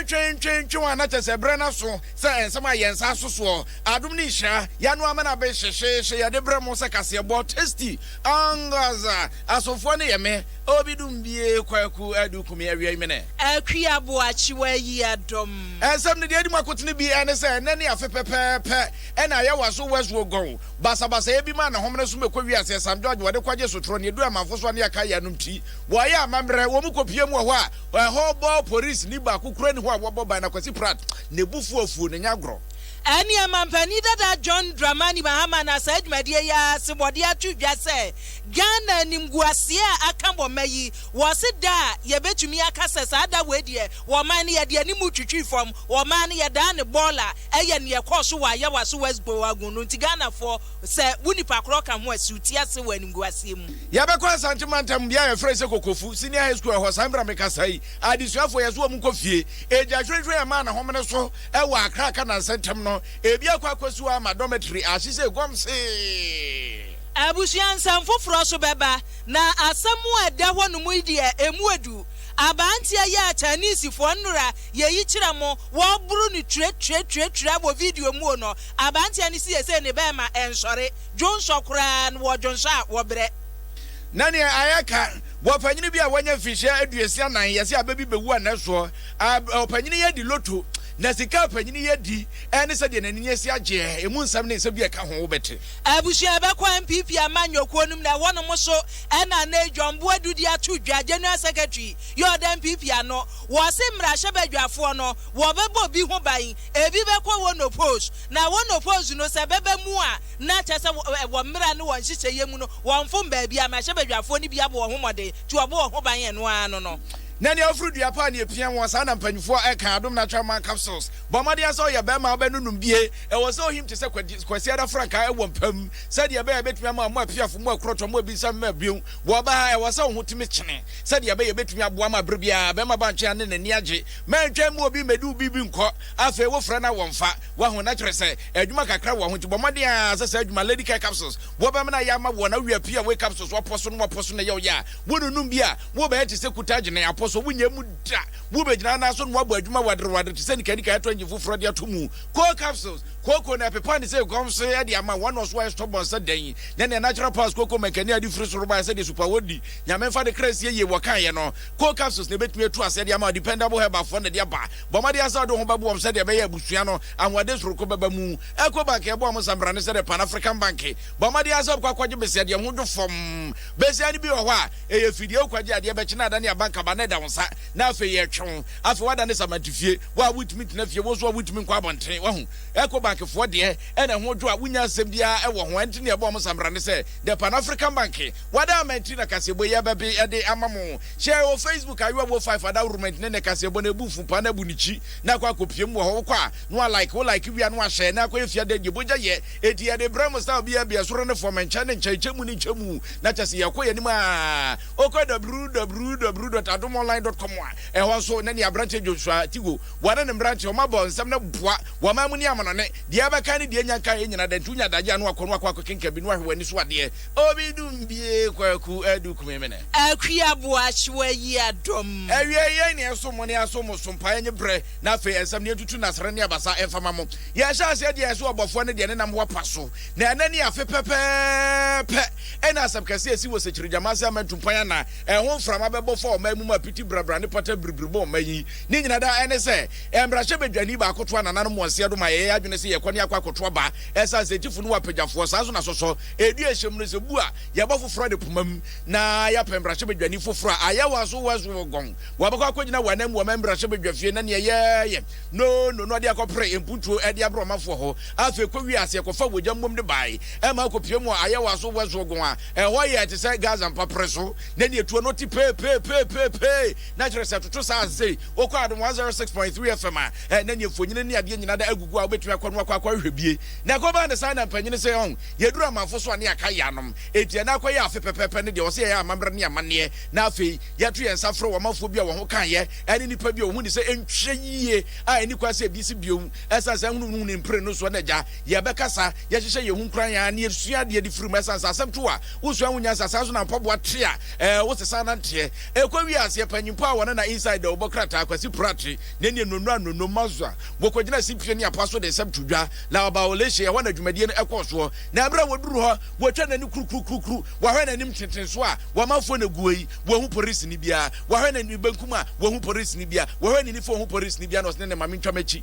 twentwentwe wɔn anakyɛ sɛ berɛ no so sɛ nsɛm a yɛn nsa so soɔ adom ne nhyira yɛano amena be hyehyeehye yɛde berɛ mo sɛ kaseɛbɔ tasty angaza asomfoɔ ne yɛ me Obi dum bie Kwaku Adu Kumi Awiai Mene. Akwi Aboakye Wayi Adom. Nsɛm no deɛ edi mu akotene bi ne sɛ, nnɛ ne afe pɛpɛɛpɛ na ɛyɛ Waso West Wuogon basabasayɛ bi maa ne homene so bɛkɔ wiase ɛ, Sam George wɔde kɔgye sotorɔ, nea ɛduru amanfo so a ne yɛakae yɛn anom ti, wɔyɛ amammerɛ, wɔn mu kɔpue mu wɔ hɔ a ɛhɔ bɔ porisini baako koraa nni hɔ a wɔbɔ ban na Kwasi Pratt ne bo fu afuo, ne nyɛ agorɔ. Ɛnneɛ mampanin dada John Dramani Mahama na saa dwumadie yi ara sebɔdeɛ ato dwa sɛ, Ghana animguaseɛ a aka wɔ mma yi, wɔse da a yɛbɛtumi aka sɛ saa da wei deɛ wɔ ɔman no yɛde anim twitwi fam, wɔ ɔman no yɛdaa no bɔɔla ɛyɛ neɛ ɛkɔɔ so wɔ Ayawa so West Boagun no nti Ghanafoɔ sɛ wo nipa korɔ ka ho a siw ti ase wɔ animguaseɛ mu. Yɛbɛkɔ Asante mantam bea a yɛfrɛ sɛ Kokofu Senior High School ɛhɔ saa berɛ a mekasa yi adesuafoɔ yɛse wɔn nkɔ fie Agya Hwɛnhwɛn ɛmaa ne homene so wɔ Accra ka nansa ntɛm no ebi akɔ akɔsi hɔ ama dormitory ahyese Gomse Abusua nsɛm foforɔ so bɛba, na asɛm a ɛda hɔ no mu yi deɛ ɛmu ɔdu. Aberanteɛ yi a Chinesefoɔ nnora yɛ yi kyerɛ mo, wɔboro no twiratwiratwiratwira wɔ video muo no, aberanteɛ no siesei ne bɛɛma ɛnsɔre, dwonsɔ koraa no wɔdwonsɔ a wɔbrɛ. Na neɛ ayɛ ka, bɔpanyini bi a wanya mfirihyia aduosia nan yɛse abɛ bi bɛwu anɛ soɔ, ab, ɔpanyini yi adi loto, na sika a ɔpanyini yi adi, ɛne sɛdeɛ n'ani asi agyeɛ, ɛmu nsɛm ne nsɛm bi a ɛka ho wobɛte. Abusua a ɛbɛkɔ NPP amanyɔ kuo no mu na ɛhɔ nom nso ɛna nnɛyi John Boadu de ato dwa, General Secretary, yɛ ɔda NPP ano. Wɔse mmarahyɛ badwafoɔ no wɔbɛbɔ bi ho ban, ebi bɛkɔ wɔn opposed na wɔn opposed no sɛ bɛba mu a na kyerɛ sɛ wɔ mmara ne wɔ nhyehyɛeɛ mu no wɔmfom baabi a mmarahyɛ badwafoɔ no bi abɔ wɔn ho mmɔden nti wɔbɔ wɔn ho ban ɛno ara no no. Na nea afuru dua paa nea epia wɔn saa na mpanyinfoɔ ɛka, Adom Natural Man Capsules, bɔ mmɔden sɛ ɔyɛ bɛɛma wobɛnonom bie. Ɛwɔ sɛ ohim te sɛ Kwasiada frankaa ɛwɔ mpa mu sɛdeɛ ɛbɛyɛ ɛbɛtumi ama mo apiafo, mo akurɔtɔ, mo abinsa mma bio. Wɔ ɔbaa ha, ɛwɔ sɛ wo ho tumi kyene sɛdeɛ ɛbɛyɛ ɛbɛtumi aboa ma berɛ biara bɛrima ba nkyɛn a ne n'ani agye. Mantwa mmu obi mmɛdi wo biribi nkɔ. Afei wofrɛ no a wɔmfa. Wahu? Na kyerɛ sɛ adwuma kakra wɔ ho nti bɔ mmɔden ara sɛ saa adwuma Lady Care Capsules wɔbɛma no ayɛ ama woɔ na wowie a pii a woyɛ capsules wɔ pɔ so no wɔ pɔ so na ɛyɛ wo ya a wononom bi a wobɛyɛ te sɛ kuta gyene apɔ so wonyɛ mu da. Wobɛgyina anan so na woabɔ adwuma wadere wadere te sɛ nikanika ɛtɔ engine foforɔ de ato mu. Coal capsules, kooko na ɛpepa ne sɛ aguam so yɛ de ama wɔn na ɔso ayɛ stubborn sɛ dɛn yi nyɛ nea natural pass kooko mankani a ɛde firi soro baeɛ sɛdeɛ super wɔ di nyame mfa ne kra nsie yie wɔkaeɛ no coal capsules na ɛbɛtumi atu aseɛ de ama dependable herbal foɔ na ɛde aba bɔ mmɔden ara sɛ wode wo ho bɛboa wɔn sɛdeɛ ɛbɛyɛ abusua no ahoɔden soronko bɛba mu Ecobank ɛboa wɔn nsambrane sɛdeɛ Pan African Bank bɔ mmɔden ara sɛ wobɛkɔ akɔgye besia deɛ ho dwo fam besia no bi wɔ hɔ a ɛyɛ fidie wokɔgye adeɛ bɛkye na adane abankaba na ɛda wo nsa na afei yɛtwe wo Afei wada ne samante fie. Wo a wontumi ntena fie, wo nso a wontumi nkɔ abɔnten. Wahu? Ecobank foɔ deɛ, ɛna ɛho dwo a wonnya asɛm biara ɛwɔ ho. Ɛnti nea ɛbɔɔ mo samra ne sɛ, the Pan African Bank, wada ama nti na kaseɛbɔ yi ɛbɛbe ɛde ama mo. Hyɛ wɔ Facebook, Ayewa Wo Five Adawrment ne ne kaseɛbɔ no ɛbu fuu paa na abu ne kyi na akɔ akɔpie mu wɔ hɔ. Wokɔ a, na wa like, wo like wie a na wa share na akɔyɛ fiada deɛ bogya yɛ. Ɛnti yɛde brɛ mo style biara bi, ɛsoro ne fɔm, nkyɛn ne nkyɛn, kyɛ mu ne nkyɛ mu, na kyɛse yɛkɔ yɛn anim aa. Wokɔ www dot adom online dot com a, ɛhɔ nso na nea aberanteɛ Joshua Tigo, wɔne ne mmeranteɛ wɔn abɔ nsɛm no boa wɔ aman mu ne amanɔne. Deɛ ɛbɛka ne deɛ nya nka yɛ nyinaa, dɛnti wonya adagyeɛ a na wakɔ na wakɔ akɔkenkan bi na wahwɛ w'ani so adeɛ. Obi dum bie Kwaku Adu Kumemene. Akua Boakye wayi adɔm. Awiei yei na ɛsom mo ne asom mo so mpaeɛ nye berɛ na afei ɛnsɛm ne yɛntutu nnasra ne abasa mfa ma mo. Yɛhyɛ aseɛ deɛ ɛso ɔbɔfoɔ no deɛ ne nam ho apa so na ɛnɛ ne afe pɛpɛɛpɛ. Ɛnna asɛm kɛse a esi wɔ Sekyeregyama ase ama ntumpan a na ɛho mframa bɛbɔ faa ɔman mu ma piti brabra ne pata biribiri bɔɔ ɔman yi ne nyinaa daa ɛne sɛ mmarahyɛbadwani baako toaa nananom wɔn seɛ do ma ɛyɛɛ adwene sɛ yɛkɔ ne akɔ akɔto aba ɛsan sɛ tifo no wɔ apagyafoɔ saa nso na sɔsɔ ɛdu ɛhyɛ mu no sɛ bu a yɛbɔ foforɔ de pomam na yɛapɛ mmarahyɛbadwani foforɔ a ayɛ wɔn aso wɔn so wɔ gɔn wɔabɛkɔ akɔgyina wɔn anan mu wɔ ɔman mmarahyɛbadwafie na neɛ yɛyɛ no no no ɔde akɔpere mpuntuo ɛde abrɛ ɔmanfoɔ hɔ afei kɔwie aseɛ kɔfa wɔgya mmom de bae Ɛma akɔpue mu a ayɛ wɔ aso wɛsoɔ gon a ɛhɔ yɛ te sɛ Gaza mpaperɛ so na neɛ tuo no te peepeepeepeepee na kyerɛ sɛ ɛtoto saa a sei wokɔ adom 106.3 FM a ɛɛ na neɛ mfonyini ne adeɛ nyina da agugu a wobɛtumi akɔ no akɔ akɔ ahwehwɛ bie na ɛkɔ baa ne saa na mpanyini se ɔn yɛduru amanfo so a ne yɛaka yɛanom enti ɛna akɔ yɛ afe pɛpɛɛpɛ ne deɛ ɔse yɛyɛ amammerɛ ne amanneɛ na afei yɛto yɛn nsa frɛ wɔ manfoɔ bi a wɔn ho kaeɛ ɛne nipa bi a wɔn ho ni sɛ ɛnhwɛ yie a ɛni kwan sɛ ɛbi si biom ɛsan saa hunuhunuhunu mpire no soɔ na agya yɛbɛkasa Yɛhyehyɛ yɛn ho nkuran ara na yɛsua adeɛ de firi mu. Ɛsiane sɛ asɛm to a wosua ho nya nsa, saa nso na mpaboa te a ɛɛ wosesa nanteɛ. Ɛkɔ wie aseɛ pɛ, nyimpa a wɔne na Inside Dawubɔ krataa, Kwasi Prate, ne neɛ Nonno Anonno, Mazua, wɔkɔgyinaa Sipie ne Apoa so de nsɛm too dwa, na wɔbaa Oleshe, ɛhɔ na dwumadie no ɛkɔɔ soɔ. Na berɛ a wɔduruu hɔ, wɔtwaa no ani kurukurukurukuru, wɔahwɛ n'anim tenten so a, wɔamanfoɔ na ɛgu hɔ yi, wɔanhu porisini biara, wɔahwɛ ne benkum a, wɔanhu porisini biara, wɔhwɛ ne nifa a, wɔanhu porisini biara, na ɔse ne ne maame ntwa m'akyi.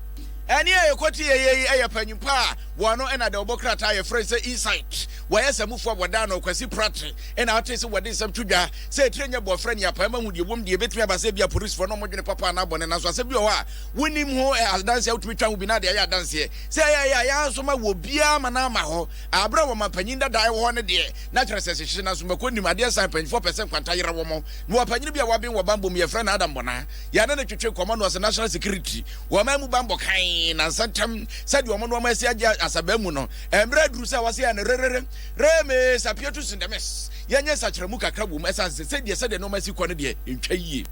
Ɛnne a ɛkɔteɛeɛ yi yɛ panyimpa a wɔn ano na dɛwbɔ krataa a yɛfrɛ no sɛ Insight. Wɔyɛ samufo a wɔda ano, Kwasi Prattey na ɔtee sɛ wɔde nsɛm to dwa sɛ etire nyɛ bɔfra ne apaemu ahu deɛ ɛwom deɛ ɛbɛtumi aba sɛ ebia aporisifo no wɔdwene papa anaa bɔne nanso asɛm bi wɔ hɔ a wonim ho adanseɛ a wotumi twa ho bi na deɛ ɛyɛ adanseɛ sɛ ɛyɛ ɛyɛ a yɛn nso ma wɔ biara ama no ama hɔ a berɛ a wɔma panyin dada ɛwɔ hɔ no deɛ na kyerɛ sɛ hyehye nanso mako nim adeɛ san mpanyinfoɔ pɛ sɛ nkwanta yera wɔn mewɔ panyin bi a waben wɔ bammɔ mu yɛfrɛ no Adam Bonah Yɛne no twetwe nkɔmmɔ na ɔse National Secretary wɔ ɔman mu banbɔ kann na nsɛntɛm sɛdeɛ wɔn nnoɔma asi agye asabaa mu no, mmerɛ aduru sɛ wɔse yɛn rerere remee sapietu sindemes yɛnyɛ nsakyeramu kakra wom ɛsane sɛ sɛdeɛ sɛdeɛ nnoɔma asi kɔ no deɛ ntwa yie.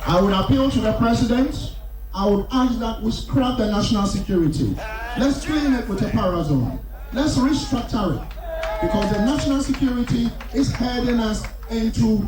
I would appeal to the president, I would ask that we scrap the national security, let's clean it with a parazone, let's restructure it because the national security is heading us into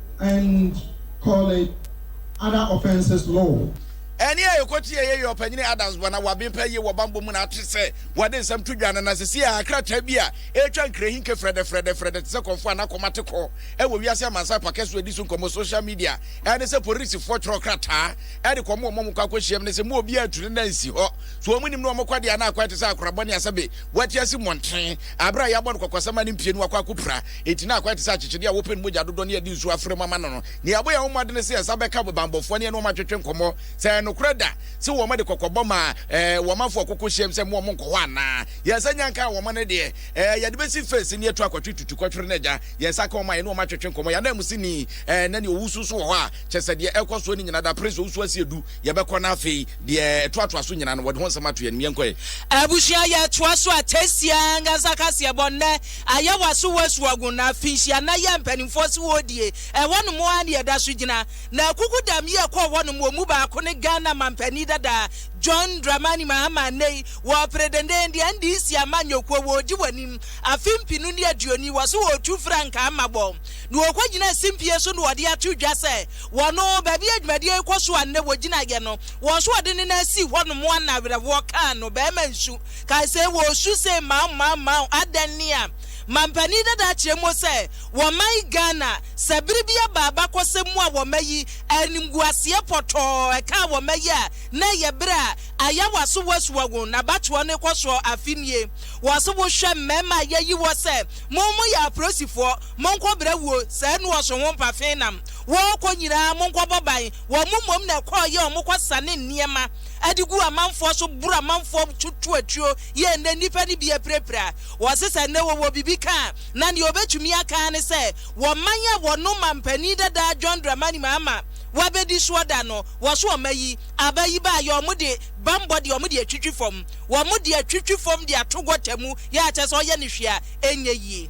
and call it other offences law. Ɛne a yɛkɔ tie yɛ yɛ ɔpanyini Adams bɔ na waben pɛ yie wɔ banbɔ mu na ate sɛ wɔde nsɛm to dwa no na sɛsi a krataa bi a ɛretwa nkrahinke frɛdɛfrɛdɛfrɛdɛ te sɛ kɔmfo a nakɔm ate kɔ wɔ wiase amansan pakɛ so adi so nkɔmmɔ social media ɛne sɛ porisifoɔ twerɛ krataa de kɔm wɔ mɔm kɔ akɔhyiam ne sɛ mu obi antu ne na nsi hɔ so wɔn nim no wɔn kɔdeɛ na akɔɛ te sɛ akorabɔ ne asɛbe wɔate asi mmɔnten abere a yɛabɔ no kɔkɔsɛm a ne mpie no wakɔ akɔpira Enti na akwae te sɛ akyekyede a wɔpɛ no mogya dodoɔ ne yɛde nsuo afra mu ama no no. Nea ɛbɔ yɛn ho mmɔdene sɛ yɛn nsa bɛka bammɔfoɔ no yɛne wɔn atwetwe nkɔmmɔ sɛ ɛyɛ nokorɛ da sɛ wɔn de kɔkɔbɔ maa eh, wɔn manfoɔ a wɔkɔkɔ hyiam sɛ mma wɔn nkɔ hɔ anaa. Yɛn nsa nya nkaa wɔn no deɛ, eh, yɛde bɛsi fence ne yɛatu akɔtwe tutukɔtwere no agya. Yɛn nsa ka wɔn a yɛne wɔn atwetwe nkɔmmɔ. Yɛn ananmusini, eh, na nea ɔwusu nso wɔ hɔ a, kyerɛ sɛ deɛ ɛrekɔ soɔ no nyinaa, dapere sɛ ɔwusu asie du, yɛbɛkɔ no afei. Deɛ ɛtoatoa so nyinaa no, wɔde ho nsɛm ato yɛn anim. Yɛnkɔ ɛ. Abusua yɛtoa so atesia ankasa kaseɛ bɔ nnɛ ayɛ waso wɔ asuagun na finhyia na yɛ mpaninfoɔ se wɔredie ɛhɔ nom ara na yɛda so gyina na akuku dam yi ɛkɔɔ hɔ nom wɔn mu baako ne Ghana manpanin dada John Dramani Mahama nnɛ yi wɔrepere denden deɛ NDC amanyɔkuo wɔredi wɔ anim afe mpenu ne aduoni wɔ se wɔretu frankaa ma bɔ na wɔkɔgyinaa simpie so na wɔde ato dwa sɛ wɔn, baabi a dwumadie yi kɔ so a nnɛ wɔgyina yɛ no, wɔn so wɔde ne nan sii hɔnom a na awerɛhoɔ kaa no. Barima nsu kae sɛ, Wɔresu sei mao mao mao, adɛn ne a mampanin dada akyerɛ mo sɛ wɔ man Ghana, sɛ bere bi aba abakɔsɛm mu a wɔma yi animguaseɛ pɔtɔɔ ɛkaa wɔma yi a, na ɛyɛ bere a ayawa so wɔasua wɔn, na abatoɔ no rekɔ soɔ afe nie. Wɔse wohwɛ mmarima a yɛayi wɔ sɛ mo moyɛ aporosifoɔ, Monkɔ bra wuo, saa nu ɔso ho mpafe nam wɔɔkɔ nyinaa monkɔ bɔ ban, wɔn mo mmom na ɛkɔɔ yɛ wɔn kɔ sane nneɛma de gu amanfoɔ so boro amanfoɔ to to atuo yɛ nnɛ nnipa no bi apirapira wɔse sɛ nnɛ wɔwɔ biribi ka a na nea wɔbɛtumi aka ara ne sɛ wɔ man a wɔnom mampanin dada John Dramani Mahama wabɛdi soɔ da no wɔso wɔn ayi aba yi ba yɛ wɔn de bambɔ deɛ wɔn de atwitwi fam wɔn de atwitwi fam de ato gɔta mu yɛ akyɛ sɛ ɔyɛ ne hwee a ɛnyɛ yie.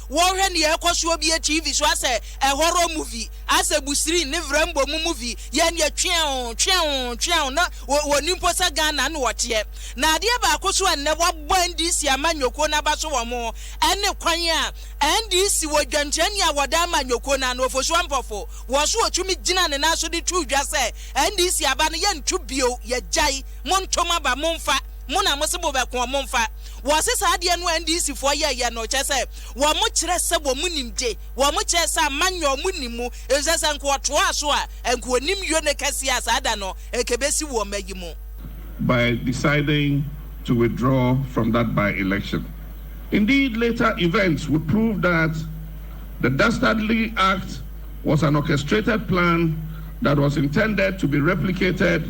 Wɔhwɛ nea ɛkɔ soɔ bie TV so asɛ ɛ horror movie asɛ busiri ne vrɛmbɔ mu movie yɛ neɛ tweɛoo tweɛoo tweɛoo na wɔ wɔnim mpo sɛ Ghana na wɔteɛ na adeɛ baako so a nnɛ wɔabɔ NDC amanyɔkuo no aba so wɔ mo ɛne kwan a NDC wɔ dwamkyerɛni a wɔda ama anyɔkuo no ano Ofosu Ampofo wɔ so ɔtumi gyina ne nan so de too dwa sɛ NDC aba no yɛnto bio yɛgyae monto mo aba momfa Mo na mose mobɛko wɔn mfa. Wɔse saa adeɛ no a NDC foɔ yɛɛyɛ no kyerɛ sɛ wɔn kyerɛ sɛ wɔn nim de wɔn kyerɛ sɛ ama nyɛ wɔn nim mu efisɛ sɛ nka wɔtoaa so a nka wɔnim yone kɛseɛ a saa da no nka ɛbɛsi wɔ mma yi mu. by deciding to withdraw from that by-election. Indeed, later events would prove that the dastardly act was an orchestrated plan that was intended to be replicated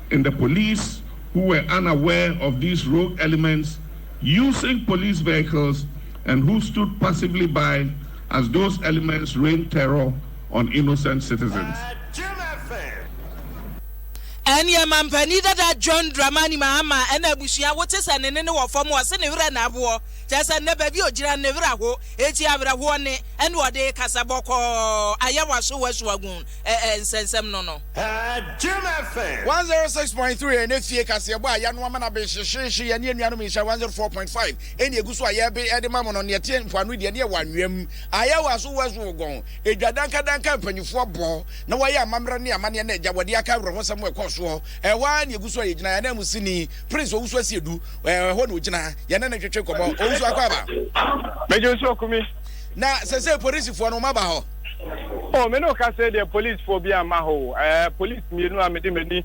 and the police who were unaware of these rogue elements using police vehicles and who stood passively by as those elements rained terror on innocent citizens. Ɛnneɛ mampanin dada John Dramani Mahama na abusua, wote sɛ ne nne no wɔ fam, ɔse ne werɛ na ahoɔ, kyerɛ sɛ nnɛ baabi a ɔgyina no ne werɛ aho, enti awerɛhoɔ nne na ɔde rekasa bɔkɔɔ, ayɛ w'aso w'asuagun. eh eh nsɛnsɛm no no. Ɛɛ Jim FM. 106.3 ɛnɛ fie kaseɛbɔ a yanoa ma no abe hyehyeehye yɛne anuanom nhyira 104.5 ɛne ɛgu so a yɛbe ɛde ma mo no neɛ ɛteɛ mpoano deɛ ne ɛwɔ anwea mu ayɛ wɔ aso west wogon ɛdwa dankadanka mpanyifoɔ bɔ na wɔyɛ amammerɛ ne amanneɛ na agya wɔde aka awerɛhosɛm wɔ ɛkɔɔ soɔ ɛhɔ ara ne ɛgu so a yɛgyina yɛn anam sini prince owusu asie du ɛhɔ na ɔgyina yɛne ne twetwe kɔmɔ owusu akɔ aba mɛgye nso akumi na sɛ sɛ polisifoɔ no wɔn aba hɔ Oh me ne wo kasa yi deɛ police foɔ bi amma hɔ o. Ɛɛ police mmienu a mede m'ani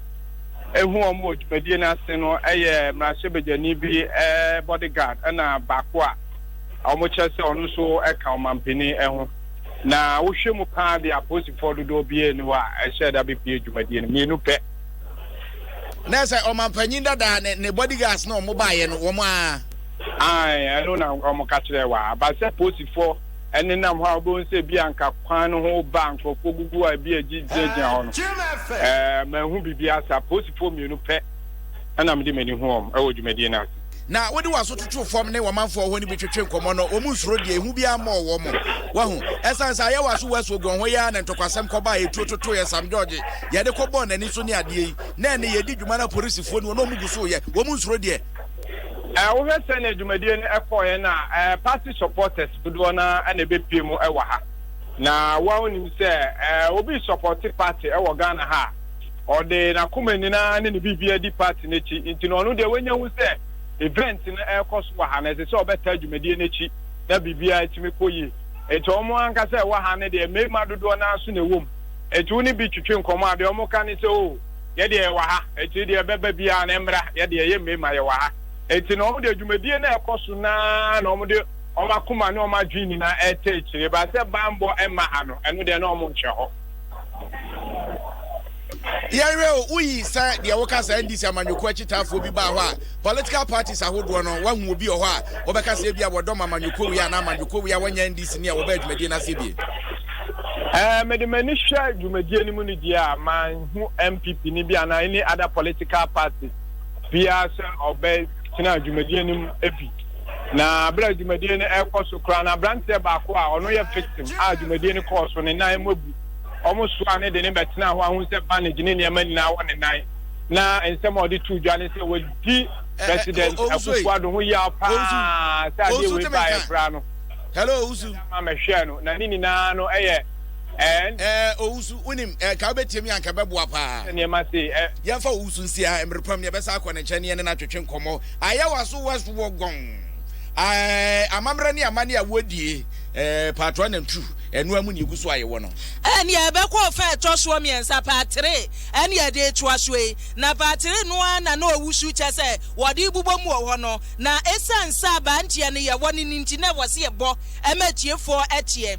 ehu wɔn wɔ dwumadie no ase no yɛ mmarahyɛbadwani bi ɛɛ body guard ɛna baako a wɔn kyerɛ sɛ ɔno nso ɛka ɔmanpanin ɛho. Na wohwɛ mu paa deɛ apolisifoɔ dodoɔ biara ni hɔ a ɛhyɛ da bepie dwumadie no mmienu pɛ. Na sɛ ɔmanpanin dada ne ne body guards na wɔn baayɛ no wɔn aa. Ae ɛno na wɔn ka kyerɛ wa ba sɛ polisifoɔ. ɛnenam hɔ a wobɛhu sɛ ebi anka kwan no ho ba a nkurɔfoɔ gugu a ebi a gyinagyina hɔ no ɛɛ mahu biribi asa polisifoɔ mmienu pɛ ɛna mede m'ani hu wɔn ɛwɔ dwumadie no ase. Na wode w'aso toto fam ne wɔmanfoɔ hɔ no bi twetwe nkɔmmɔ no, wɔn nsuro deɛ ehu biara mmɔɔ wɔn. Wahu? Ɛsiane sɛ ayɛ w'aso wɔ asuoguan hɔ yi ara na ntɔkwasɛm kɔba a etuo totoeɛ Sam George yɛde kɔbɔɔ n'ani so ne adeɛ yi. Nnɛ ne yɛredi dwuma no apolisifoɔ ni wɔn na wɔgu so reyɛ, wɔn nsuro deɛ. Ɛ wohwɛ sɛnea dwumadie no kɔɔeɛ no a, ɛ party supporters dodoɔ no ara na ɛbɛpue mu wɔ ha. Na wo ara wonim sɛ ɛ obi resupporte party wɔ Ghana ha a, ɔde n'akoma nyina ara ne ne biribiara di party no akyi. Nti no ɔno deɛ wanya hu sɛ event no rekɔ so wɔ ha no, ɛsɛ sɛ ɔbɛtaa dwumadie no akyi na biribiara atumi kɔ yie. Nti wɔn ankasa a ɛwɔ ha no deɛ, mmarima dodoɔ no ara nso na ɛwɔ mu. Nti wo ne bi twetwe nkɔmmɔ a, deɛ wɔka ne sɛ, Oh! yɛ deɛ yɛwɔ ha, akyiri deɛ ɛbɛba biara no ɛmmra, yɛ deɛ yɛ mmarima yɛwɔ ha. Enti na wɔn deɛ dwumadie no ɛrekɔ so no ara na wɔn de wɔn akoma ne wɔn adwene nyinaa ɛreta akyire, but sɛ banbɔ ɛmma ha no, ɛno deɛ na wɔn nhwɛ hɔ. Yɛnhwɛ o, woyi sɛ deɛ woka sɛ NDC amanyɔkuo akyitaafoɔ bi baa hɔ a, political parties ahodoɔ no, woahu obi wɔ hɔ a wɔbɛka sɛ ebia wɔdɔm amanyɔkuo wei anaa amanyɔkuo wei a wɔnyɛ NDC ni a wɔbaa dwumadie no ase bie? Ɛɛ, mede m'ani hwɛ dwumadie no mu no deɛ a, man. hu NPP ni bi anaa any other political party biara sɛ ɔbɛtena dwumadie no mu bi. Na berɛ a dwumadie no ɛrekɔ so koraa no, aberanteɛ baako a ɔno yɛ victim a dwumadie no kɔɔ so ne nan mu abu. Wɔn soa ne de ne bɛtena hɔ ahu sɛ bandage ne nneɛma nyinaa wɔ ne nan. Na nsɛm a ɔde tuu dwa ne sɛ wɔdi president Akufo-Addo ho yaw paa sɛ adeɛ wei baeɛ koraa no. Hello, Owusu. Ama mɛhwɛɛ no na ne nyinaa no ɛyɛ And. Ɛɛ, owusu, wunim, anka wubetie me a, anka ɛbɛboa paa. Sɛ nneɛma sei, ɛ. Yɛmfa owusu nsi ha, mmere pam ni, yɛbɛsan akɔ ne nkyɛn ne yɛne no atwetwe nkɔmmɔ. Ayɛ w'aso West Wuogon. Ɛɛ, amammerɛ ne amanne a wodie, ɛɛ, paatoa nantu, ɛno ara mu na yegu so ayɛ wɔ no. Ɛnneɛ ɛbɛkɔ ɔfã a ɛtɔ soɔ mmiɛnsa, part three, ɛne yɛde retoa so yi. Na part three no ara na na owusu kyɛ sɛ wɔde rebobɔ mu wɔ hɔ no. Na esiane sɛ abanteɛ no yɛwɔ no no nti, na ɛwɔ sɛ yɛbɔ ma atiefoɔ teɛ.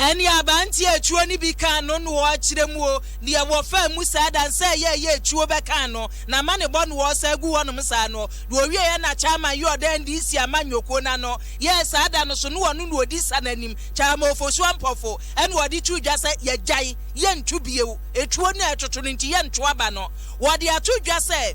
Nnuaba ntiatuo no bi ka ano noɔ kyerɛ mu o, deɛ wɔfaa mu saa da no sɛ ɛyɛ ɛyɛ atuo bɛka ano na ama ne bɔ noɔ saa gu hɔnom saa no na ɔwieɛ na Chairman yɛ ɔdan NDC amanyɔkuo no ano yɛɛ saa da no so na ɔno na ɔdi sa no anim Chairman Ofosu Ampofo ɛna ɔde too dwa sɛ yɛgyae yɛnto bio atuo no a ɛtoto no nti yɛnto aba no wɔde ato dwa sɛ